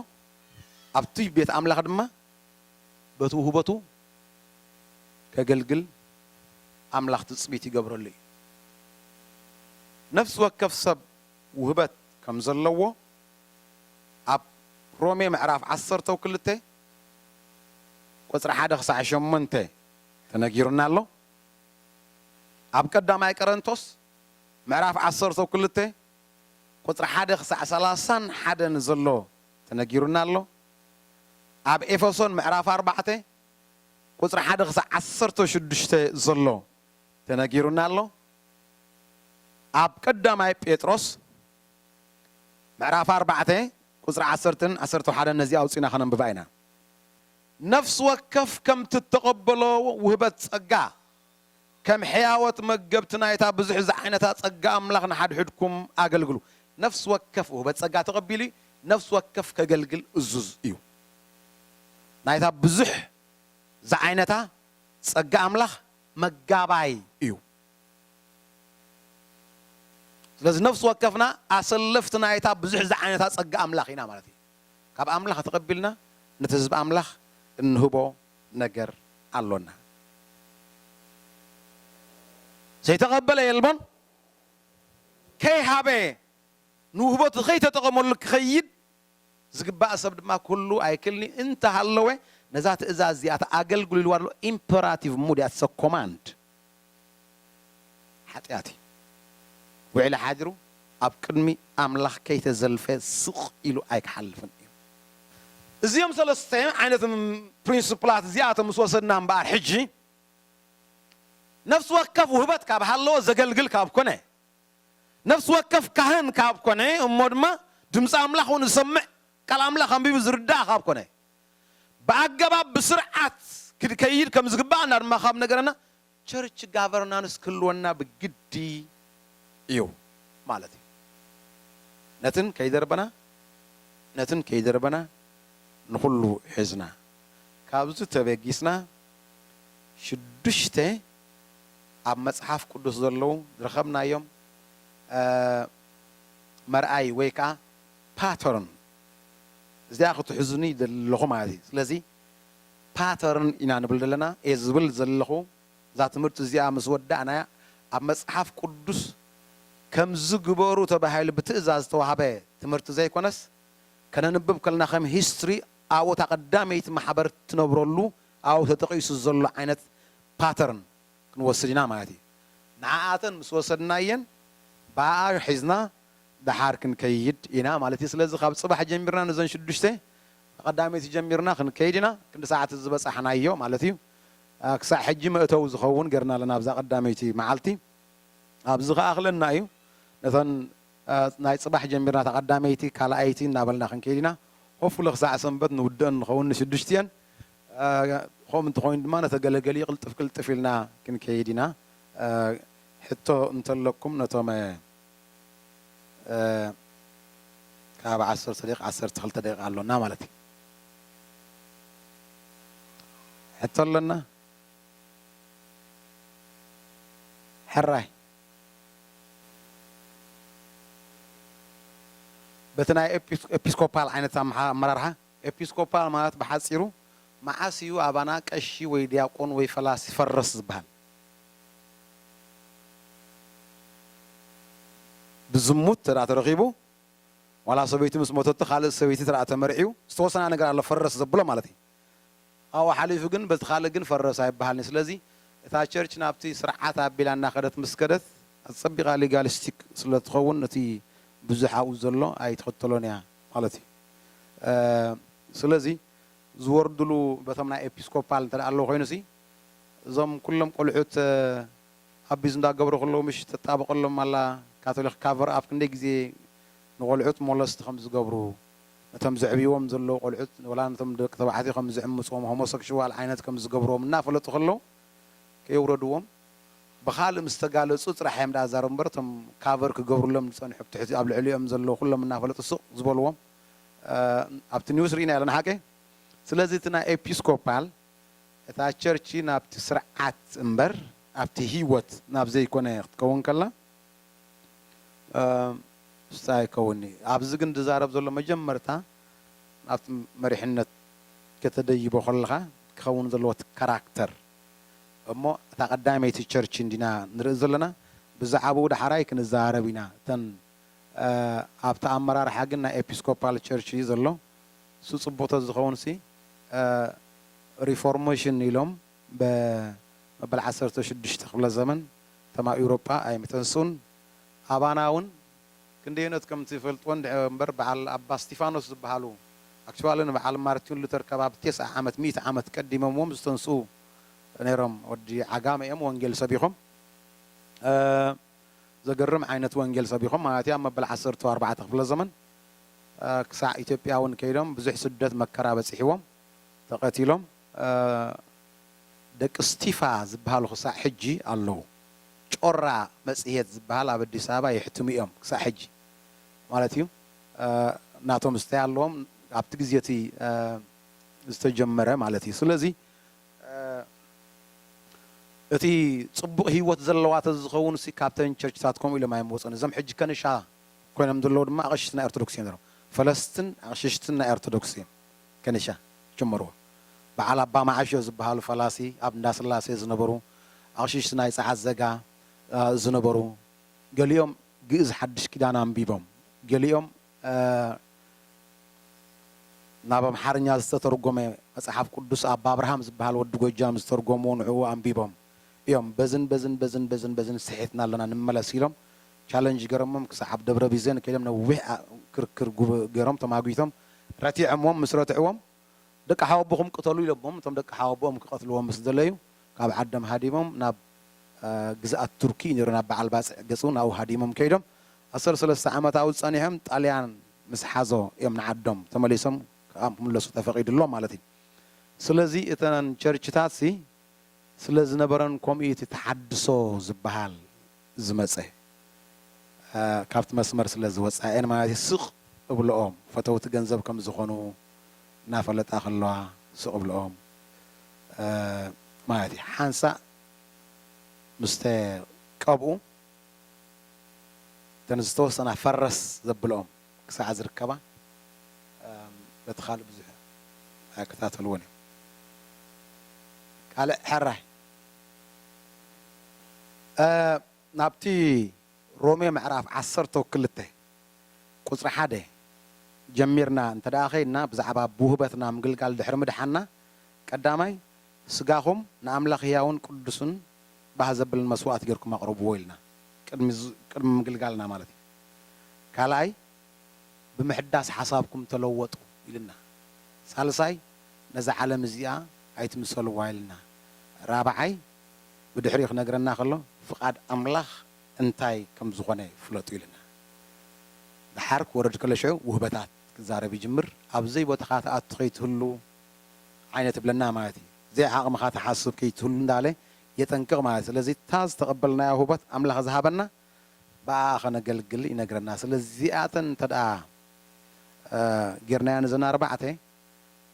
Speaker 1: ኣብቲ ቤት ኣምላኽ ድማ በቲ ውህበቱ ከገልግል ኣምላኽ ትጽቢት ይገብረሉ እዩ። ነፍሲ ወከፍ ሰብ ውህበት ከም ዘለዎ ኣብ ሮሜ ምዕራፍ ዓሰርተው ክልተ ቁጽሪ ሓደ ክሳዕ ሸሞንተ ተነጊሩና ኣሎ። ኣብ ቀዳማይ ቀረንቶስ ምዕራፍ ዓሰርተው ክልተ ቁጽሪ ሓደ ክሳዕ ሰላሳን ሓደን ዘሎ ተነጊሩና ኣሎ። ኣብ ኤፈሶን ምዕራፍ ኣርባዕተ ቁጽሪ ሓደ ክሳዕ ዓሰርተ ሽዱሽተ ዘሎ ተነጊሩና ኣሎ። ኣብ ቀዳማይ ጴጥሮስ ምዕራፍ ኣርባዕተ ቁጽሪ ዓሰርተን ዓሰርተ ሓደን ነዚ ኣውጺእና ከነንብባ ኢና። ነፍሲ ወከፍ ከምቲ እተቐበሎ ውህበት ጸጋ፣ ከም ሕያዎት መገብቲ ናይታ ብዙሕ ዝዓይነታ ጸጋ ኣምላኽ ንሓድሕድኩም ኣገልግሉ። ነፍሲ ወከፍ ውህበት ጸጋ ተቐቢሉ እዩ፣ ነፍሲ ወከፍ ከገልግል እዙዝ እዩ። ናይታ ብዙሕ ዝዓይነታ ጸጋ ኣምላኽ መጋባይ እዩ። ስለዚ ነፍሲ ወከፍና ኣሰለፍቲ ናይታ ብዙሕ ዝዓይነታ ጸጋ ኣምላኽ ኢና ማለት እዩ። ካብ ኣምላኽ ተቐቢልና ነቲ ህዝቢ ኣምላኽ እንህቦ ነገር ኣሎና። ዘይተቐበለ የልቦን፣ ከይሃበ ንውህበቱ ከይተጠቐመሉ ክኸይድ ዝግባእ ሰብ ድማ ክህሉ ኣይክእልን እዩ፣ እንተ ሃለወ ነዛ ትእዛዝ እዚኣታ ኣገልግሉ ኢልዋ ኣሎ፣ ኢምፐራቲቭ ሙድ እያ፣ ኢትስ እ ኮማንድ። ሓጢኣት እዩ። ውዒሉ ሓዲሩ ኣብ ቅድሚ ኣምላኽ ከይተዘልፈ ስቕ ኢሉ ኣይክሓልፍን እዩ። እዚኦም ሰለስተ ዓይነት ፕሪንስፕላት እዚኣቶም ምስ ወሰድና እምበኣር ሕጂ ነፍሲ ወከፍ ውህበት ካብ ሃለወ ዘገልግል ካብ ኮነ፣ ነፍሲ ወከፍ ካህን ካብ ኮነ፣ እሞ ድማ ድምጺ ኣምላኽ እውን ዝሰምዕ ቃል ኣምላኽ ኣንቢቡ ዝርዳእ ካብ ኮነ፣ ብኣገባብ ብስርዓት ክድከይድ ከም ዝግበኣና ድማ ካብ ነገረና ቸርች ጋቨርናንስ ክህልወና ብግዲ እዩ ማለት እዩ። ነትን ከይደርበና ነትን ከይደርበና ንኹሉ ሒዝና ካብዚ ተበጊስና ሽዱሽተ ኣብ መጽሓፍ ቅዱስ ዘለዉ ዝረኸብናዮም መርኣዪ ወይ ከኣ ፓተርን እዚኣ ክትሕዙኒ ይደሊ ኣለኹ ማለት እዩ። ስለዚ ፓተርን ኢና ንብል ዘለና። እየ ዝብል ዘለኹ። እዛ ትምህርቲ እዚኣ ምስ ወዳእናያ ኣብ መጽሓፍ ቅዱስ ከምዚ ግበሩ ተባሂሉ ብትእዛዝ ዝተዋህበ ትምህርቲ ዘይኮነስ ከነንብብ ከለና ከም ሂስትሪ ኣብኡ እታ ቀዳመይቲ ማሕበር እትነብረሉ ኣብኡ ተጠቒሱ ዘሎ ዓይነት ፓተርን ክንወስድ ኢና ማለት እዩ። ንዓኣተን ምስ ወሰድናየን ብኣኣ ሒዝና ደሓር ክንከይድ ኢና ማለት እዩ ስለዚ ካብ ጽባሕ ጀሚርና ነዘን ሽዱሽተ ንቀዳመይቲ ጀሚርና ክንከይድ ኢና ክንዲ ሰዓት እዚ ዝበጻሕናዮ ማለት እዩ ክሳዕ ሕጂ መእተዊ ዝኸውን ገርና ኣለና ኣብዛ ቀዳመይቲ መዓልቲ ኣብዚ ክኣኽለና እዩ ነተን ናይ ጽባሕ ጀሚርና እታ ቀዳመይቲ ካልኣይቲ እናበልና ክንከይድ ኢና ሆፍሊ ክሳዕ ሰንበት ንውድእን ንኸውን ንሽዱሽቲኤን ከምኡ እንተኾይኑ ድማ ነተገለገሊ ቅልጥፍ ቅልጥፍ ኢልና ክንከይድ ኢና ሕቶ እንተለኩም ነቶም ካብ ዓሰርተ ደቂቅ ዓሰርተ ክልተ ደቂቅ ኣሎና ማለት እዩ ሕቶ ኣለና ሕራይ በቲ ናይ ኤጲስኮፓል ዓይነት ኣመራርሓ ኤጲስኮፓል ማለት ብሓፂሩ መዓስ እዩ ኣባና ቀሺ ወይ ዲያቆን ወይ ፈላሲ ፈረስ ዝበሃል ብዝሙት ተደኣ ተረኺቡ ዋላ ሰበይቱ ምስ ሞተቶ ካልእ ሰበይቲ ተደኣ ተመርዕዩ ዝተወሰና ነገር ኣሎ ፈረስ ዘብሎ ማለት እዩ ካብኡ ሓሊፉ ግን በቲ ካልእ ግን ፈረስ ኣይበሃልን ስለዚ እታ ቸርች ናብቲ ስርዓት ኣቢላ እናኸደት ምስ ከደት ኣጸቢቓ ሊጋሊስቲክ ስለ ትኸውን ነቲ ብዙሕ ኣብኡ ዘሎ ኣይትኽተሎን እያ ማለት እዩ ስለዚ ዝወርድሉ በቶም ናይ ኤጲስኮፓል እንተ ኣለዉ ኮይኑሲ እዞም ኩሎም ቆልዑት ኣቢዝ እንዳ ገብሩ ከለዉ ምሽ ትጣበቀሎም ኣላ ካቶሊክ ካቨር ኣፕ ክንደይ ግዜ ንቆልዑት ሞለስት ከም ዝገብሩ ነቶም ዘዕብይዎም ዘለዉ ቆልዑት ወላ ነቶም ደቂ ተባዕትዮ ከም ዝዕምጽዎም ሆሞሰክሽዋል ዓይነት ከም ዝገብርዎም እናፈለጡ ከለዉ ከየውረድዎም ብካልእ ምስ ተጋለጹ ጥራሕ እዮም ደኣ ዝዛረቡ እምበር እቶም ካቨር ክገብርሎም ዝጸንሑ ኣብትሕቲ ኣብ ልዕሊኦም ዘለዉ ኩሎም እናፈለጡ ስቅ ዝበልዎም ኣብቲ ኒውስ ሪኢናዮ ኣለና ሓቀይ ስለዚ እቲ ናይ ኤፒስኮፓል እታ ቸርች ናብቲ ስርዓት እምበር ኣብቲ ህይወት ናብ ዘይኮነ ክትከውን ከላ ምስታ ኣይከውን እዩ። ኣብዚ ግን ዝዛረብ ዘሎ መጀመርታ ናብቲ መሪሕነት ከተደይቦ ከለኻ ክኸውን ዘለዎ እቲ ካራክተር እሞ እታ ቀዳመይቲ ቸርች እንዲና ንርኢ ዘለና ብዛዕብኡ ዳሕራይ ክንዛረብ ኢና እተን ኣብቲ ኣመራርሓ ግን ናይ ኤፒስኮፓል ቸርች እዩ ዘሎ እሱ ፅቡቅ ተዝኸውንሲ ሪፎርሞሽን ኢሎም በመበል ዓሰርተ ሽዱሽተ ክፍለ ዘመን እቶም ኣብ ኢውሮጳ ኣይምተንስኡን ኣባና እውን ክንደየኖት ከምትፈልጥዎን ድሕሪ እምበር በዓል ኣባ እስቲፋኖስ ዝበሃሉ ኣክችዋሊ ንበዓል ማርቲን ሉተር ከባቢ ቴስዓ ዓመት ሚእቲ ዓመት ቀዲመምዎም ዝተንስኡ ነይሮም ወዲ ዓጋመ እዮም ወንጌል ሰቢኾም ዘገርም ዓይነት ወንጌል ሰቢኾም ማለት እዩ ኣብ መበል ዓሰርተው ኣርባዕተ ክፍለ ዘመን ክሳዕ ኢትዮጵያ እውን ከይዶም ብዙሕ ስደት መከራ በፂሕዎም ተቐቲሎም ደቂ ስቲፋ ዝበሃሉ ክሳዕ ሕጂ ኣለዉ ጮራ መፅሄት ዝበሃል ኣብ ኣዲስ ኣበባ የሕትሙ እዮም ክሳዕ ሕጂ ማለት እዩ ናቶም ዝታይ ኣለዎም ኣብቲ ግዜ እቲ ዝተጀመረ ማለት እዩ ስለዚ እቲ ጽቡቕ ህይወት ዘለዋ ተዝኸውንሲ ካብተን ቸርችታት ከምኡ ኢሎም ኣይምወጹን። እዞም ሕጂ ከንሻ ኮይኖም ዘለዉ ድማ ኣቕሽሽቲ ናይ ኦርቶዶክስ እዮም ነይሮም። ፈለስትን ኣቕሽሽትን ናይ ኦርቶዶክስ እዮም ከንሻ ጀመርዎ። በዓል ኣባ መዓሾ ዝበሃሉ ፈላሲ ኣብ እንዳስላሴ ዝነበሩ፣ ኣቕሽሽቲ ናይ ጸዓት ዘጋ ዝነበሩ፣ ገሊኦም ግእዝ ሓድሽ ኪዳን ኣንቢቦም፣ ገሊኦም ናብ ኣምሓርኛ ዝተተርጎመ መጽሓፍ ቅዱስ ኣባ ኣብርሃም ዝበሃል ወዲ ጎጃም ዝተርጎምዎ ንዕኡ ኣንቢቦም እዮም በዝን በዝን በዝን በዝን በዝን ስሒትና ኣለና ንመለስ ኢሎም ቻለንጅ ገረሞም ክሳዓብ ደብረ ቢዘን ከይዶም ነዊሕ ክርክር ገሮም ተማጊቶም ረቲዖምዎም ምስ ረትዕዎም ደቂ ሓወቦኹም ቅተሉ ኢሎሞም እቶም ደቂ ሓወቦኦም ክቀትልዎም ምስ ደለዩ ካብ ዓዶም ሃዲሞም ናብ ግዝኣት ቱርኪ እዩ ነይሩ ናብ በዓል ባጽዕ ገጹ ናብኡ ሃዲሞም ከይዶም ኣሰር ሰለስተ ዓመት ኣብኡ ጸኒሖም ጣልያን ምስ ሓዞ እዮም ንዓዶም ተመሊሶም ክኣምለሱ ተፈቂድሎም ማለት እዩ ስለዚ እተን ቸርችታትሲ ስለ ዝነበረን ኮምኡ'ዩ እቲ ተሓድሶ ዝበሃል ዝመጸ ካብቲ መስመር ስለ ዝወጻኤን ማለት'ዩ ስቅ እብልኦም ፈተውቲ ገንዘብ ከም ዝኮኑ ናፈለጣ ከለዋ ስቅ እብልኦም ማለት እዩ ሓንሳእ ምስ ተቀብኡ እተን ዝተወሰና ፈረስ ዘብልኦም ክሳዕ ዝርከባ በቲ ካልእ ብዙሕ ኣይከታተልዎን እየ። ካልእ ሕራይ ናብቲ ሮሜ ምዕራፍ ዓሰርተው ክልተ ቁጽሪ ሓደ ጀሚርና እንተድኣ ከይድና ብዛዕባ ብውህበትና ምግልጋል ድሕሪ ምድሓንና ቀዳማይ ስጋኹም ንኣምላኽ ህያውን ቅዱስን ባህ ዘብልን መስዋእቲ ጌርኩም ኣቕርብዎ ኢልና፣ ቅድሚ ቅድሚ ምግልጋልና ማለት እዩ። ካልኣይ ብምሕዳስ ሓሳብኩም ተለወጡ ኢሉና። ሳልሳይ ነዛ ዓለም እዚኣ ኣይትምሰልዋ ኢልና። ራብዓይ ብድሕሪኡ ክነግረና ከሎ ፍቓድ ኣምላኽ እንታይ ከም ዝኾነ ፍለጡ ኢሉና። ድሓር ክወርድ ከሎ ሽዑ ውህበታት ክዛረብ ይጅምር። ኣብ ዘይቦታኻ ትኣቱ ከይትህሉ ዓይነት እብለና ማለት እዩ ዘይ ዓቅምኻ ትሓስብ ክይትህሉ እንዳለ የጠንቅቅ ማለት ስለዚ እታ ዝተቀበልናያ ሁቦት ኣምላኽ ዝሃበና ብኣኣ ከነገልግል ይነግረና ስለ እዚኣተን እንተ ጌርናየን እዘን ኣርባዕተ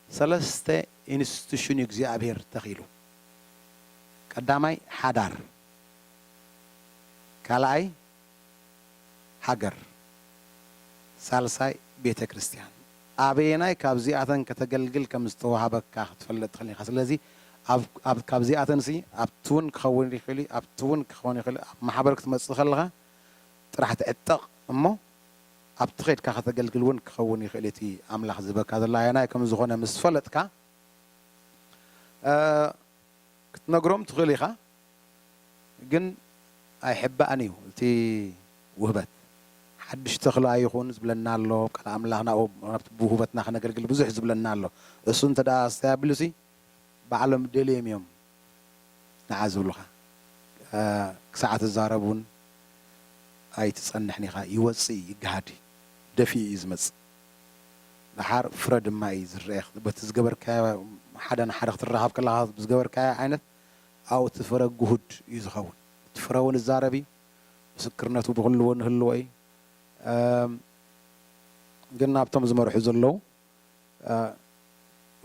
Speaker 1: ሰለስተ ኢንስቲቱሽን እዩ እግዚኣብሄር ተኺሉ ቀዳማይ ሓዳር ካልኣይ ሃገር ሳልሳይ ቤተ ክርስትያን ኣበየናይ ካብዚኣተን ከተገልግል ከም ዝተዋህበካ ክትፈልጥ ትኽእል ኢኻ ስለዚ ኣብ ካብዚኣተንሲ ኣብቲ ውን ክኸውን ይኽእል እዩ ኣብቲ ውን ክኸውን ይኽእል እዩ ኣብ ማሕበር ክትመጽእ ከለኻ ጥራሕ ትዕጠቕ እሞ ኣብቲ ከድካ ከተገልግል ውን ክኸውን ይኽእል እዩ እቲ ኣምላኽ ዝህበካ ዘሎ ኣየናይ ከም ዝኾነ ምስ ፈለጥካ ክትነግሮም ትኽእል ኢኻ ግን ኣይሕባእን እዩ እቲ ውህበት ሓድሽ ተኽለ ኣይኹን ዝብለና ኣሎ ቃል ኣምላኽ ናብኡ ናብቲ ብውህበትና ክነገልግል ብዙሕ ዝብለና ኣሎ እሱ እንተ ኣስተብሃብሉሲ ባዕሎም ደልዮም እዮም ንዓ ዝብሉኻ ክሳዕ ትዛረብ እውን ኣይትጸንሕን ኢኻ ይወጽእ እዩ ይገሃድ እዩ ደፊኡ እዩ ዝመጽእ። ደሓር ፍረ ድማ እዩ ዝረኤ በቲ ዝገበርካዮ ሓደ ንሓደ ክትራኸብ ከለኻ ብዝገበርካዮ ዓይነት ኣብኡ እቲ ፍረ ግሁድ እዩ ዝኸውን እቲ ፍረ እውን እዛረብ እዩ ምስክርነቱ ብኹሉ እውን ህልዎ እዩ ግን ናብቶም ዝመርሑ ዘለዉ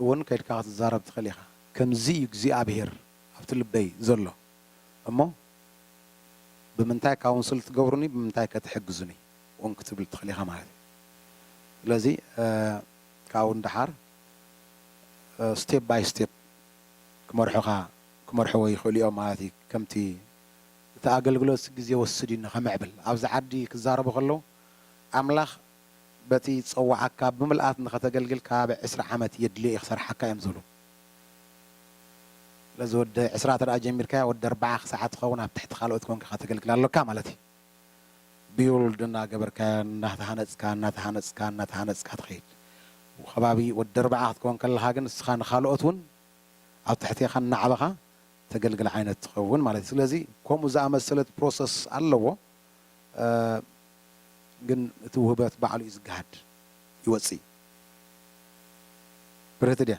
Speaker 1: እውን ከይድካ ክትዛረብ ትኽእል ኢኻ ከምዚ እዩ እግዚኣብሄር ኣብቲ ልበይ ዘሎ እሞ ብምንታይ ካውንስል ትገብሩኒ ብምንታይ ከ ትሕግዙኒ ውን ክትብል ትኽእል ኢኻ ማለት እዩ። ስለዚ ካብኡ ንደሓር ስቴፕ ባይ ስቴፕ ክመርሑኻ ክመርሕዎ ይኽእሉ እዮም ማለት እዩ። ከምቲ እቲ ኣገልግሎት ግዜ ወስድ እዩ ንኸምዕብል ኣብዚ ዓዲ ክዛረቡ ከለዉ ኣምላኽ በቲ ዝጸወዓካ ብምልኣት ንኸተገልግል ከባቢ ዕስራ ዓመት የድልዮ እዩ ክሰርሓካ እዮም ዝብሉ። ስለዚ ወዲ ዕስራ ተደኣ ጀሚርካዮ ወዲ ኣርብዓ ክሳዕ ትኸውን ኣብ ትሕቲ ካልኦት ኮንካ ከተገልግል ኣሎካ ማለት እዩ። ቢውልድ እናገበርካዮን እናተሃነፅካ እናተሃነፅካ እናተሃነፅካ ትኸይድ ከባቢ ወዲ ኣርብዓ ክትከውን ከለኻ ግን ንስኻ ንኻልኦት እውን ኣብ ትሕቴኻ እናዕበኻ ተገልግል ዓይነት ትኸውን ማለት እዩ ስለዚ ከምኡ ዝኣመሰለት ፕሮሰስ ኣለዎ ግን እቲ ውህበት ባዕሉ እዩ ዝገሃድ ይወፅእ ብርህቲ ድያ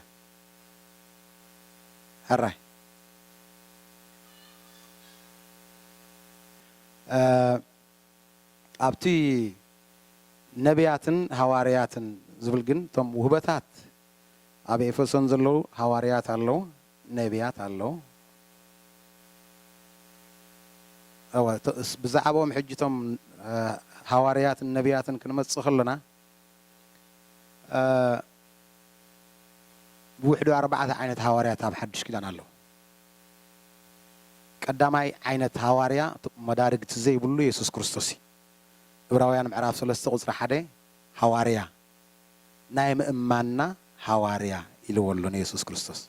Speaker 1: ሕራይ ኣብቲ ነብያትን ሃዋርያትን ዝብል ግን እቶም ውህበታት ኣብ ኤፌሶን ዘለዉ ሃዋርያት ኣለዉ፣ ነብያት ኣለዉ። እወ ብዛዕባኦም ሕጂ እቶም ሃዋርያትን ነብያትን ክንመጽእ ከሎና ብውሕዱ ኣርባዕተ ዓይነት ሃዋርያት ኣብ ሓድሽ ኪዳን ኣለዉ። ቀዳማይ ዓይነት ሃዋርያ መዳርግቲ ዘይብሉ የሱስ ክርስቶስ እዩ። ዕብራውያን ምዕራፍ ሰለስተ ቁጽሪ ሓደ ሃዋርያ ናይ ምእማንና ሃዋርያ ኢልዎ ኣሎ ንየሱስ ክርስቶስ።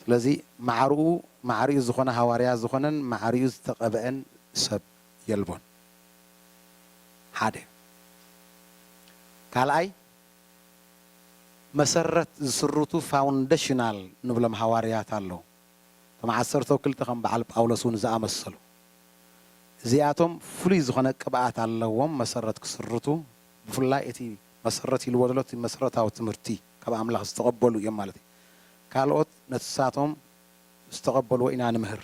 Speaker 1: ስለዚ ማዕርኡ ማዕሪኡ ዝኾነ ሃዋርያ ዝኾነን ማዕሪኡ ዝተቐብኤን ሰብ የልቦን። ሓደ ካልኣይ መሰረት ዝስርቱ ፋውንደሽናል ንብሎም ሃዋርያት ኣለዉ። እቶም ዓሰርተው ክልተ ከም በዓል ጳውሎስ እውን ዝኣመሰሉ እዚኣቶም ፍሉይ ዝኾነ ቅብኣት ኣለዎም መሰረት ክስርቱ ብፍላይ እቲ መሰረት ኢልዎ ዘሎ እቲ መሰረታዊ ትምህርቲ ካብ ኣምላኽ ዝተቐበሉ እዮም ማለት እዩ። ካልኦት ነትሳቶም ምስ ተቐበልዎ ኢና ንምህር።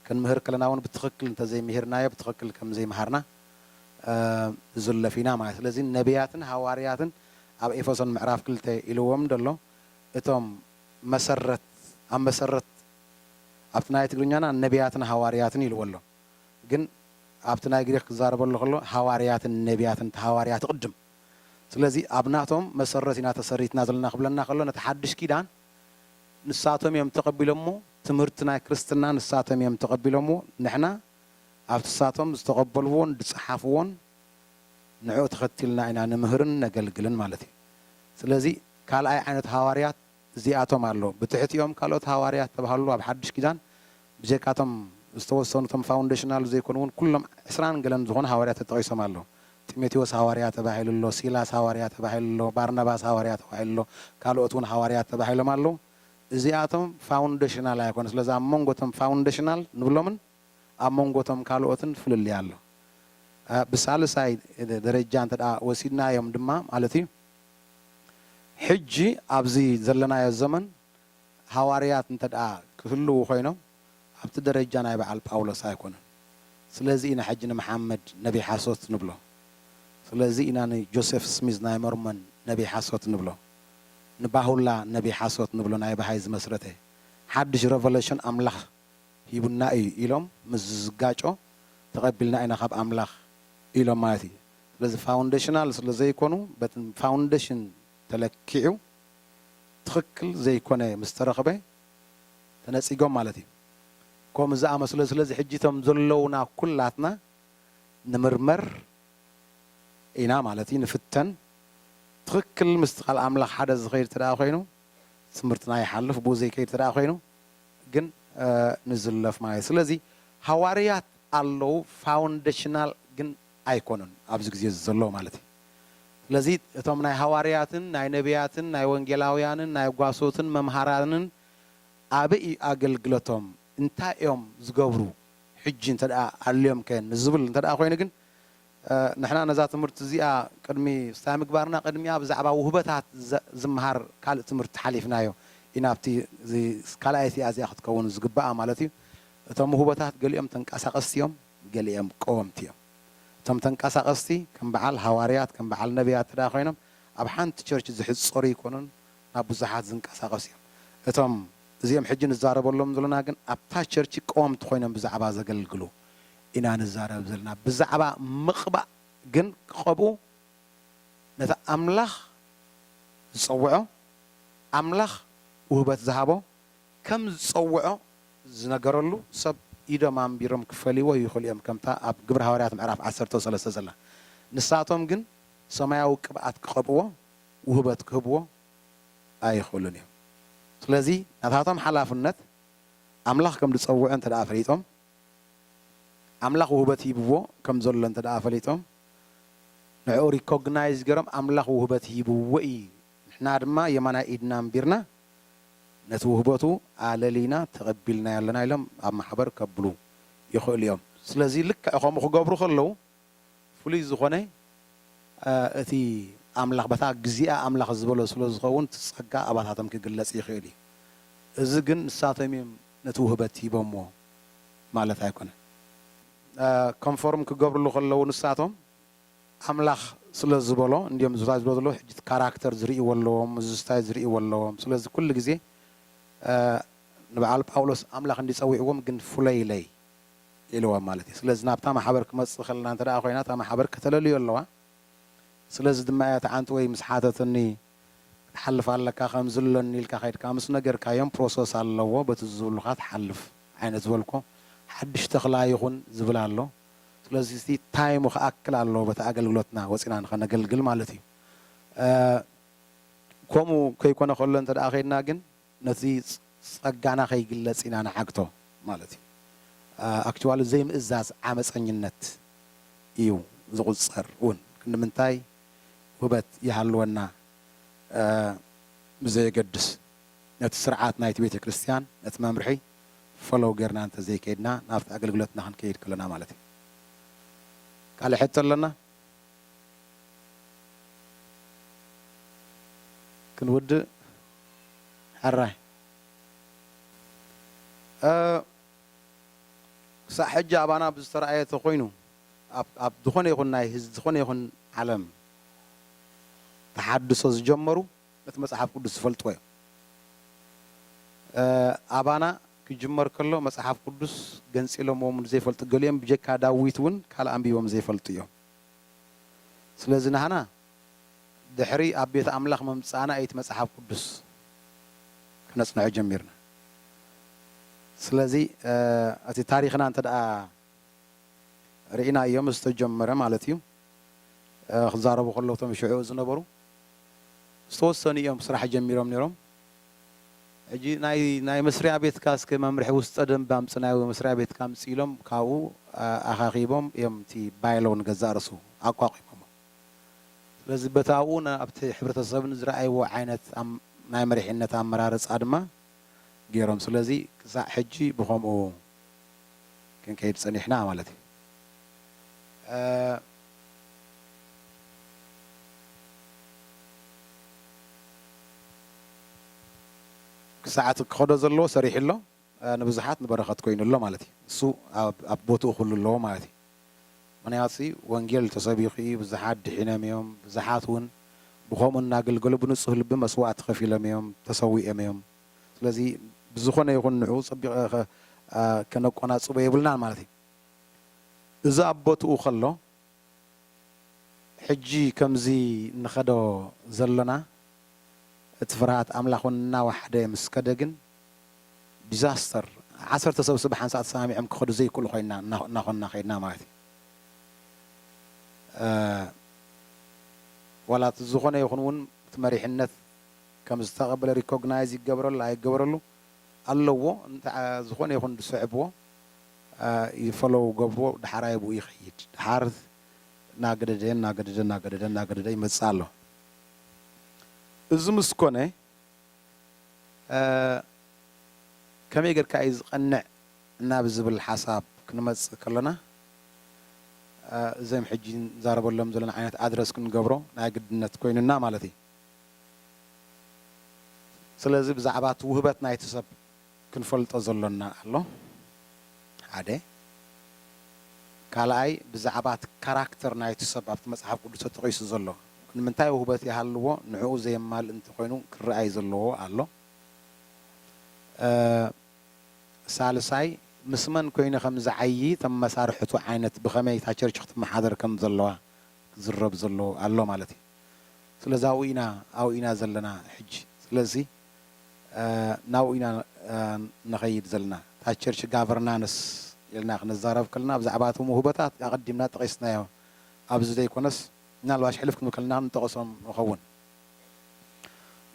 Speaker 1: ክንምህር ከለና ውን ብትኽክል እንተዘይምሂርናዮ ብትኽክል ከምዘይምሃርና ንዝለፍ ኢና ማለት እዩ። ስለዚ ነብያትን ሃዋርያትን ኣብ ኤፌሶን ምዕራፍ ክልተ ኢልዎም ደሎ እቶም መሰረት ኣብ መሰረት ኣብቲ ናይ ትግርኛና ነብያትን ሃዋርያትን ኢልዎ ኣሎ ግን ኣብቲ ናይ ግሪኽ ክዛረበሉ ከሎ ሃዋርያትን ነብያትን እቲ ሃዋርያት እቕድም ስለዚ ኣብ ናቶም መሰረት ኢና ተሰሪትና ዘለና ክብለና ከሎ ነቲ ሓድሽ ኪዳን ንሳቶም እዮም ተቐቢሎምዎ ትምህርቲ ናይ ክርስትና ንሳቶም እዮም ተቐቢሎምዎ ንሕና ኣብቲ ንሳቶም ዝተቐበልዎን ዝጸሓፍዎን ንዕኡ ተኸቲልና ኢና ንምህርን ነገልግልን ማለት እዩ ስለዚ ካልኣይ ዓይነት ሃዋርያት እዚኣቶም ኣሎ ብትሕቲኦም ካልኦት ሃዋርያት ዝተብሃሉ ኣብ ሓድሽ ኪዳን ብጀካ እቶም ዝተወሰኑ እቶም ፋውንደሽናል ዘይኮኑ ውን ኩሎም ዕስራን ገለን ዝኾኑ ሃዋርያት ተጠቒሶም ኣለዉ። ጢሞቴዎስ ሃዋርያ ተባሂሉ ኣሎ፣ ሲላስ ሃዋርያ ተባሂሉ ኣሎ፣ ባርናባስ ሃዋርያ ተባሂሉ ኣሎ፣ ካልኦት ውን ሃዋርያት ተባሂሎም ኣለዉ። እዚኣቶም ፋውንደሽናል ኣይኮኑን። ስለዚ ኣብ መንጎ እቶም ፋውንደሽናል ንብሎምን ኣብ መንጎ እቶም ካልኦትን ፍልልይ ኣሎ። ብሳልሳይ ደረጃ እንተድኣ ወሲድናዮም ድማ ማለት እዩ ሕጂ ኣብዚ ዘለናዮ ዘመን ሃዋርያት እንተድኣ ክህልዉ ኮይኖም ኣብቲ ደረጃ ናይ በዓል ጳውሎስ ኣይኮኑን። ስለዚ ኢና ሕጂ ንመሓመድ ነብይ ሓሶት ንብሎ። ስለዚ ኢና ንጆሴፍ ስሚዝ ናይ ሞርሞን ነብይ ሓሶት ንብሎ። ንባሁላ ነብይ ሓሶት ንብሎ ናይ በሃይ ዝመስረተ ሓድሽ ረቨለሽን ኣምላኽ ሂቡና እዩ ኢሎም ምስ ዝጋጮ ተቐቢልና ኢና ካብ ኣምላኽ ኢሎም ማለት እዩ። ስለዚ ፋውንደሽናል ስለዘይኮኑ በቲ ፋውንደሽን ተለኪዑ ትኽክል ዘይኮነ ምስ ተረኽበ ተነጺጎም ማለት እዩ። ከምኡ ዝኣመስለ እዩ። ስለዚ ሕጂ እቶም ዘለዉና ኩላትና ንምርመር ኢና ማለት እዩ፣ ንፍተን። ትኽክል ምስቲ ቃል ኣምላኽ ሓደ ዝኸይድ እንተድኣ ኮይኑ ትምህርትና ይሓልፍ፣ ብኡ ዘይከይድ እንተድኣ ኮይኑ ግን ንዝለፍ ማለት እዩ። ስለዚ ሃዋርያት ኣለዉ፣ ፋውንደሽናል ግን ኣይኮኑን ኣብዚ ግዜ እዚ ዘሎ ማለት እዩ ስለዚ እቶም ናይ ሃዋርያትን ናይ ነብያትን ናይ ወንጌላውያንን ናይ ጓሶትን መምሃራንን ኣበይ እዩ ኣገልግለቶም እንታይ እዮም ዝገብሩ ሕጂ እንተ ኣልዮም ከ ንዝብል እንተ ኮይኑ ግን ንሕና ነዛ ትምህርቲ እዚኣ ቅድሚ ስታይ ምግባርና ቅድሚኣ ብዛዕባ ውህበታት ዝምሃር ካልእ ትምህርቲ ሓሊፍናዮ ኢና ኣብቲ ካልኣይቲ እያ እዚኣ ክትከውን ዝግባኣ ማለት እዩ እቶም ውህበታት ገሊኦም ተንቀሳቀስቲ እዮም ገሊኦም ቀወምቲ እዮም። እቶም ተንቀሳቐስቲ ከም በዓል ሃዋርያት ከም በዓል ነብያት እንተድኣ ኮይኖም ኣብ ሓንቲ ቸርች ዝሕጸሩ ኣይኮኑን ናብ ብዙሓት ዝንቀሳቐሱ እዮም። እቶም እዚኦም ሕጂ ንዛረበሎም ዘሎና ግን ኣብታ ቸርች ቀወምቲ ኮይኖም ብዛዕባ ዘገልግሉ ኢና ንዛረብ ዘለና። ብዛዕባ ምቕባእ ግን ክቐብኡ ነቲ ኣምላኽ ዝጸውዖ ኣምላኽ ውህበት ዝሃቦ ከም ዝጸውዖ ዝነገረሉ ሰብ ኢዶም ኣንቢሮም ክፈልይዎ ይኽእሉ እዮም፣ ከምታ ኣብ ግብሪ ሃዋርያት ምዕራፍ ዓሰርተው ሰለስተ ዘላ። ንሳቶም ግን ሰማያዊ ቅብኣት ክቐብእዎ ውህበት ክህብዎ ኣይኽእሉን እዮም። ስለዚ ናታቶም ሓላፍነት ኣምላኽ ከም ዝጸውዖ እንተደኣ ፈሊጦም፣ ኣምላኽ ውህበት ሂብዎ ከም ዘሎ እንተደኣ ፈሊጦም፣ ንዕኡ ሪኮግናይዝ ገይሮም ኣምላኽ ውህበት ሂብዎ እዩ፣ ንሕና ድማ የማናይ ኢድና ኣንቢርና ነቲ ውህበቱ ኣለሊና ተቐቢልናዮ ኣለና ኢሎም ኣብ ማሕበር ከብሉ ይኽእሉ እዮም። ስለዚ ልክዕ ከምኡ ክገብሩ ከለዉ ፍሉይ ዝኾነ እቲ ኣምላኽ በታ ግዚኣ ኣምላኽ ዝበሎ ስለ ዝኸውን እቲ ጸጋ ኣባታቶም ክግለጽ ይኽእል እዩ። እዚ ግን ንሳቶም እዮም ነቲ ውህበት ሂቦምዎ ማለት ኣይኮነን። ኮንፎርም ክገብርሉ ከለዉ ንሳቶም ኣምላኽ ስለ ዝበሎ እንድዮም ዝባዝሑ ዘለዉ ሕጂ እቲ ካራክተር ዝርእይዎ ኣለዎም ምዝዝታይ ዝርእይዎ ኣለዎም ስለዚ ኩሉ ግዜ ንብዓል ጳውሎስ ኣምላኽ እንድዩ ጸዊዕዎም ግን ፍለዩለይ ኢልዎም ማለት እዩ ስለዚ ናብታ ማሕበር ክመጽእ ከለና እንተ ኮይና እታ ማሕበር ከተለልዮ ኣለዋ ስለዚ ድማ እያ እቲ ዓንትወይ ምስ ሓተትኒ ክትሓልፍ ኣለካ ከምዚ ኣለኒ ኢልካ ከድካ ምስ ነገርካዮም ፕሮሰስ ኣለዎ በቲ ዝብሉካ ትሓልፍ ዓይነት ዝበልኩ ሓድሽ ተክላ ይኩን ዝብል ኣሎ ስለዚ እቲ ታይሙ ክኣክል ኣለዎ በቲ ኣገልግሎትና ወጺና ንኸነገልግል ማለት እዩ። ከምኡ ከይኮነ ከሎ እንተ ከይድና ግን ነቲ ጸጋና ከይግለጽ ኢና ንዓግቶ ማለት እዩ። ኣክችዋሊ ዘይምእዛዝ ዓመጸኝነት እዩ ዝቑጸር እውን። ክንዲ ምንታይ ውህበት ይሃልወና ብዘየገድስ ነቲ ስርዓት ናይቲ ቤተ ክርስቲያን ነቲ መምርሒ ፎሎው ጌርና እንተዘይከይድና ናብቲ ኣገልግሎትና ክንከይድ ከሎና ማለት እዩ። ካልእ ሕቶ ኣሎና? ክንውድእ ሕራይ እ። ክሳዕ ሕጂ ኣባና ብዝተራእየ ተኾይኑ ኣብ ኣብ ዝኾነ ይኹን ናይ ዝኾነ ይኹን ዓለም ተሓድሶ ዝጀመሩ፣ ነቲ መጽሓፍ ቅዱስ ዝፈልጥዎ እዮም። ኣባና ክጅመር ከሎ መጽሓፍ ቅዱስ ገንጺሎምዎ ንዘይፈልጡ ገሊኦም ብጀካ ዳዊት እውን ካልእ ኣንቢቦም ዘይፈልጡ እዮም። ስለዚ ናህና ድሕሪ ኣብ ቤት ኣምላኽ ምምጻእና እዩ እቲ መጽሓፍ ቅዱስ ክነጽንዖ ጀሚርና። ስለዚ እቲ ታሪኽና እንተድኣ ርኢናዮ ምስ ተጀመረ ማለት እዩ። ክዛረቡ ከለዉ እቶም ሽዑ ዝነበሩ ዝተወሰኑ ኢዮም ስራሕ ጀሚሮም ኔሮም ሕጂ ናይ ናይ መስርያ ቤትካ እስከ መምርሒ ውስጠ ደንቢ ኣምጽናዮ መስርያ ቤትካ ኣምጽእ ኢሎም ካብኡ ኣኻኺቦም ኢዮም እቲ ባይሎ ንገዛእ ርእሱ ኣቋቒሞሞ ስለዚ በቲ ኣብኡ ኣብቲ ሕብረተሰብ ንዝረኣይዎ ዓይነት ናይ መሪሕነት ኣመራርጻ ድማ ጌሮም ስለዚ ክሳዕ ሕጂ ብኸምኡ ክንከይድ ጸኒሕና ማለት እዩ። ክሳዕ እቲ ክኸዶ ዘለዎ ሰሪሑ ኣሎ፣ ንብዙሓት ንበረኸት ኮይኑ ኣሎ ማለት እዩ። ንሱ ኣብ ቦትኡ ኩሉ ኣለዎ ማለት እዩ። ምክንያቱሲ ወንጌል ተሰቢኹ እዩ፣ ብዙሓት ድሒኖም እዮም፣ ብዙሓት እውን ብኸምኡ እናገልገሉ ብንጹህ ልቢ መስዋእቲ ከፊሎም እዮም፣ ተሰዊኦም እዮም። ስለዚ ብዝኾነ ይኹን ንዕኡ ጸቢቐ ከነቆናጽቦ የብልናን ማለት እዩ። እዚ ኣብ ቦትኡ ከሎ ሕጂ ከምዚ ንኸዶ ዘሎና እቲ ፍርሃት ኣምላኽ ውን እናወሓደ ምስ ከደ ግን disaster ዓሰርተ ሰብስ ብሓንሳእ ተሰማሚዖም ክኸዱ ዘይክእሉ ኮይና እናኾንና ከይድና ማለት እዩ ዋላ እቲ ዝኾነ ይኹን ውን እቲ መሪሕነት ከም ዝተቐበለ recognize ይገበረሉ ኣይገበረሉ ኣለዎ እንተ ዝኾነ ይኹን ዝስዕብዎ ይፈሎው ገብርዎ ዳሓራይ ብኡ ይኸይድ ዳሓር እናገደደ እናገደደ እናገደደ እናገደደ ይመጽእ ኣሎ። እዚ ምስ ኮነ ከመይ ጌርካ እዩ ዝቐንዕ ናብ ዝብል ሓሳብ ክንመጽእ ከሎና እዞም ሕጂ ንዛረበሎም ዘለና ዓይነት ኣድረስ ክንገብሮ ናይ ግድነት ኮይኑና ማለት እዩ። ስለዚ ብዛዕባ እቲ ውህበት ናይቲ ሰብ ክንፈልጦ ዘሎና ኣሎ ሓደ ካልኣይ ብዛዕባቲ ካራክተር ናይቲ ሰብ ኣብቲ መጽሓፍ ቅዱስ ተጠቒሱ ዘሎ ንምንታይ ውህበት ይሃልዎ ንዕኡ ዘየማልእ እንተኾይኑ ክርኣይ ዘለዎ ኣሎ ሳልሳይ ምስ መን ኮይኑ ከም ዝዓዪ እቶም መሳርሕቱ ዓይነት ብኸመይ እታ ቸርች ክትመሓደር ከም ዘለዋ ክዝረብ ዘለዎ ኣሎ ማለት እዩ ስለዚ ኣብኡ ኢና ኣብኡ ኢና ዘለና ሕጂ ስለዚ ናብኡ ኢና ንኸይድ ዘለና። እታ ቸርች ጋቨርናንስ ኢልና ክንዛረብ ከለና ብዛዕባ እቶም ውህበታት ኣቐዲምና ጠቒስናዮ። ኣብዚ ዘይኮነስ ምናልባሽ ሕልፍ ክንብል ከለና ንጠቕሶም ንኸውን።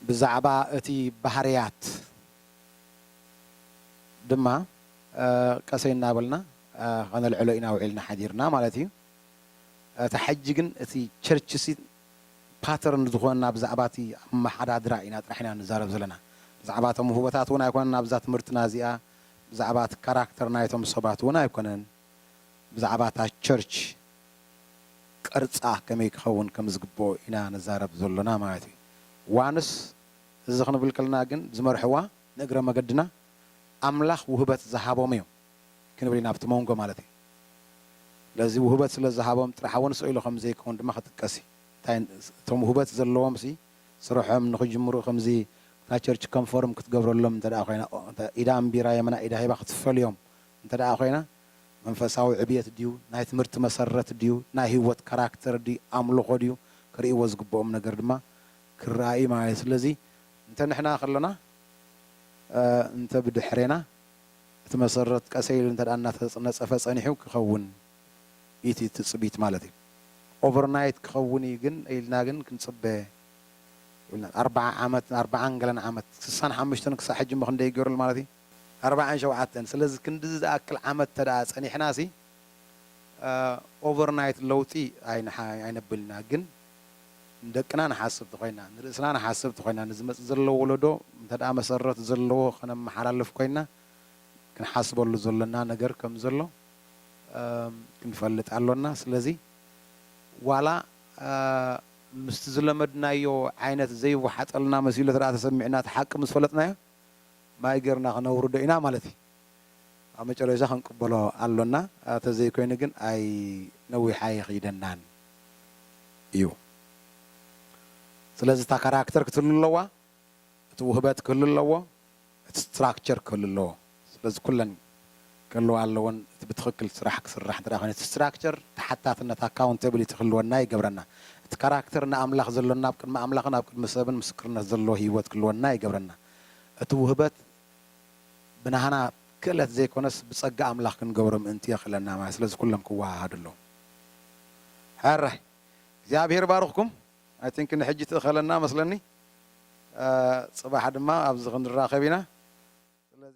Speaker 1: ብዛዕባ እቲ ባህርያት ድማ ቀሰይ እናበልና ከነልዕሎ ኢና ውዒልና ሓዲርና ማለት እዩ። እታ ሕጂ ግን እቲ ቸርችሲ ፓተርን ዝኾነና ብዛዕባቲ ኣመሓዳድራ ኢና ጥራሕ ኢና ንዛረብ ዘለና ብዛዕባ እቶም ውህበታት ውን ኣይኮነን ኣብዛ ትምህርትና እዚኣ ብዛዕባቲ ካራክተር ናይቶም ሰባት ውን ኣይኮነን ብዛዕባ እታ ቸርች ቅርጻ ከመይ ክኸውን ከም ዝግብኦ ኢና ንዛረብ ዘሎና ማለት እዩ ዋንስ እዚ ክንብል ከለና ግን ዝመርሕዋ ንእግረ መገድና ኣምላኽ ውህበት ዝሃቦም እዮም ክንብል ኢና ኣብቲ ሞንጎ ማለት እዩ። ስለዚ ውህበት ስለ ዝሃቦም ጥራሕ እውን ስእሉ ከም ዘይከውን ድማ ክጥቀስ እዩ። እንታይ እቶም ውህበት ዘለዎምሲ ስርሖም ንክጅምሩ ከምዚ እታ ቸርች ከም ፎርም ክትገብረሎም እንተድኣ ኮይና ኢዳ ኣንቢራ የመና ኢዳ ሂባ ክትፈልዮም እንተድኣ ኮይና መንፈሳዊ ዕብየት ድዩ ናይ ትምህርቲ መሰረት ድዩ ናይ ህይወት ካራክተር ድዩ ኣምልኾ ድዩ ክርእይዎ ዝግብኦም ነገር ድማ ክርኣ እዩ ማለት እዩ። ስለዚ እንተ ንሕና ከሎና እንተ ብድሕሬና እቲ መሰረት ቀሰይ ኢሉ እንተድኣ እናተነፀፈ ፀኒሑ ክኸውን ኢዩ እቲ ትፅቢት ማለት ኢዩ። ኦቨር ናይት ክኸውን ኢዩ ግን ኢልና ግን ክንፅበ የብልናን። ኣርብዓ ዓመት ኣርብዓን ገለን ዓመት ስሳን ሓሙሽተን ክሳዕ ሕጂ እሞ ክንደይ ገይሩሉ ማለት ኢዩ? ኣርብዓን ሸውዓተን ስለዚ ክንድዚ ዝኣክል ዓመት እንተድኣ ፀኒሕናሲ ኦቨር ናይት ለውጢ ኣይነብልን ኢና ግን ንደቅና ንሓስብ ተኾይና፣ ንርእስና ንሓስብ ተኾይና፣ ንዝመጽእ ዘሎ ወለዶ እንተድኣ መሰረት ዘለዎ ከነመሓላልፍ ኮይና፣ ክንሓስበሉ ዘሎና ነገር ከም ዘሎ ክንፈልጥ ኣሎና። ስለዚ ዋላ ምስቲ ዝለመድናዮ ዓይነት ዘይወሓጠልና መሲሉ ተድኣ ተሰሚዑና እቲ ሓቂ ምስ ፈለጥናዮ ማይ ጌርና ክነውርዶ ኢና ማለት እዩ። ኣብ መጨረሻ ክንቅበሎ ኣሎና ተዘይኮይኑ ግን ኣይ ነዊሕ ኣይኺደናን እዩ ስለዚ እታ ካራክተር ክትህሉ ኣለዋ እቲ ውህበት ክህሉ ኣለዎ እቲ ስትራክቸር ክህሉ ኣለዎ ስለዚ ኩለን ክህልዋ ኣለወን እቲ ብትኽክል ስራሕ ክስራሕ እንተ ኮይኑ እቲ ስትራክቸር ተሓታትነት ኣካውንተብሊቲ ክህልወና ይገብረና እቲ ካራክተር ንኣምላኽ ዘሎና ኣብ ቅድሚ ኣምላኽን ኣብ ቅድሚ ሰብን ምስክርነት ዘለዎ ህይወት ክህልወና ይገብረና እቲ ውህበት ብናህና ክእለት ዘይኮነስ ብጸጋ ኣምላኽ ክንገብሮ ምእንቲ የኽእለና ማለት ስለዚ ኩሎም ክወሃሃዱ ኣለዎም። ሕራይ እግዚኣብሄር ይባርኽኩም ኣይ ቲንክ ንሕጂ ትእኸለና መስለኒ ጽባሕ ድማ ኣብዚ ክንራኸብ ኢና ስለዚ።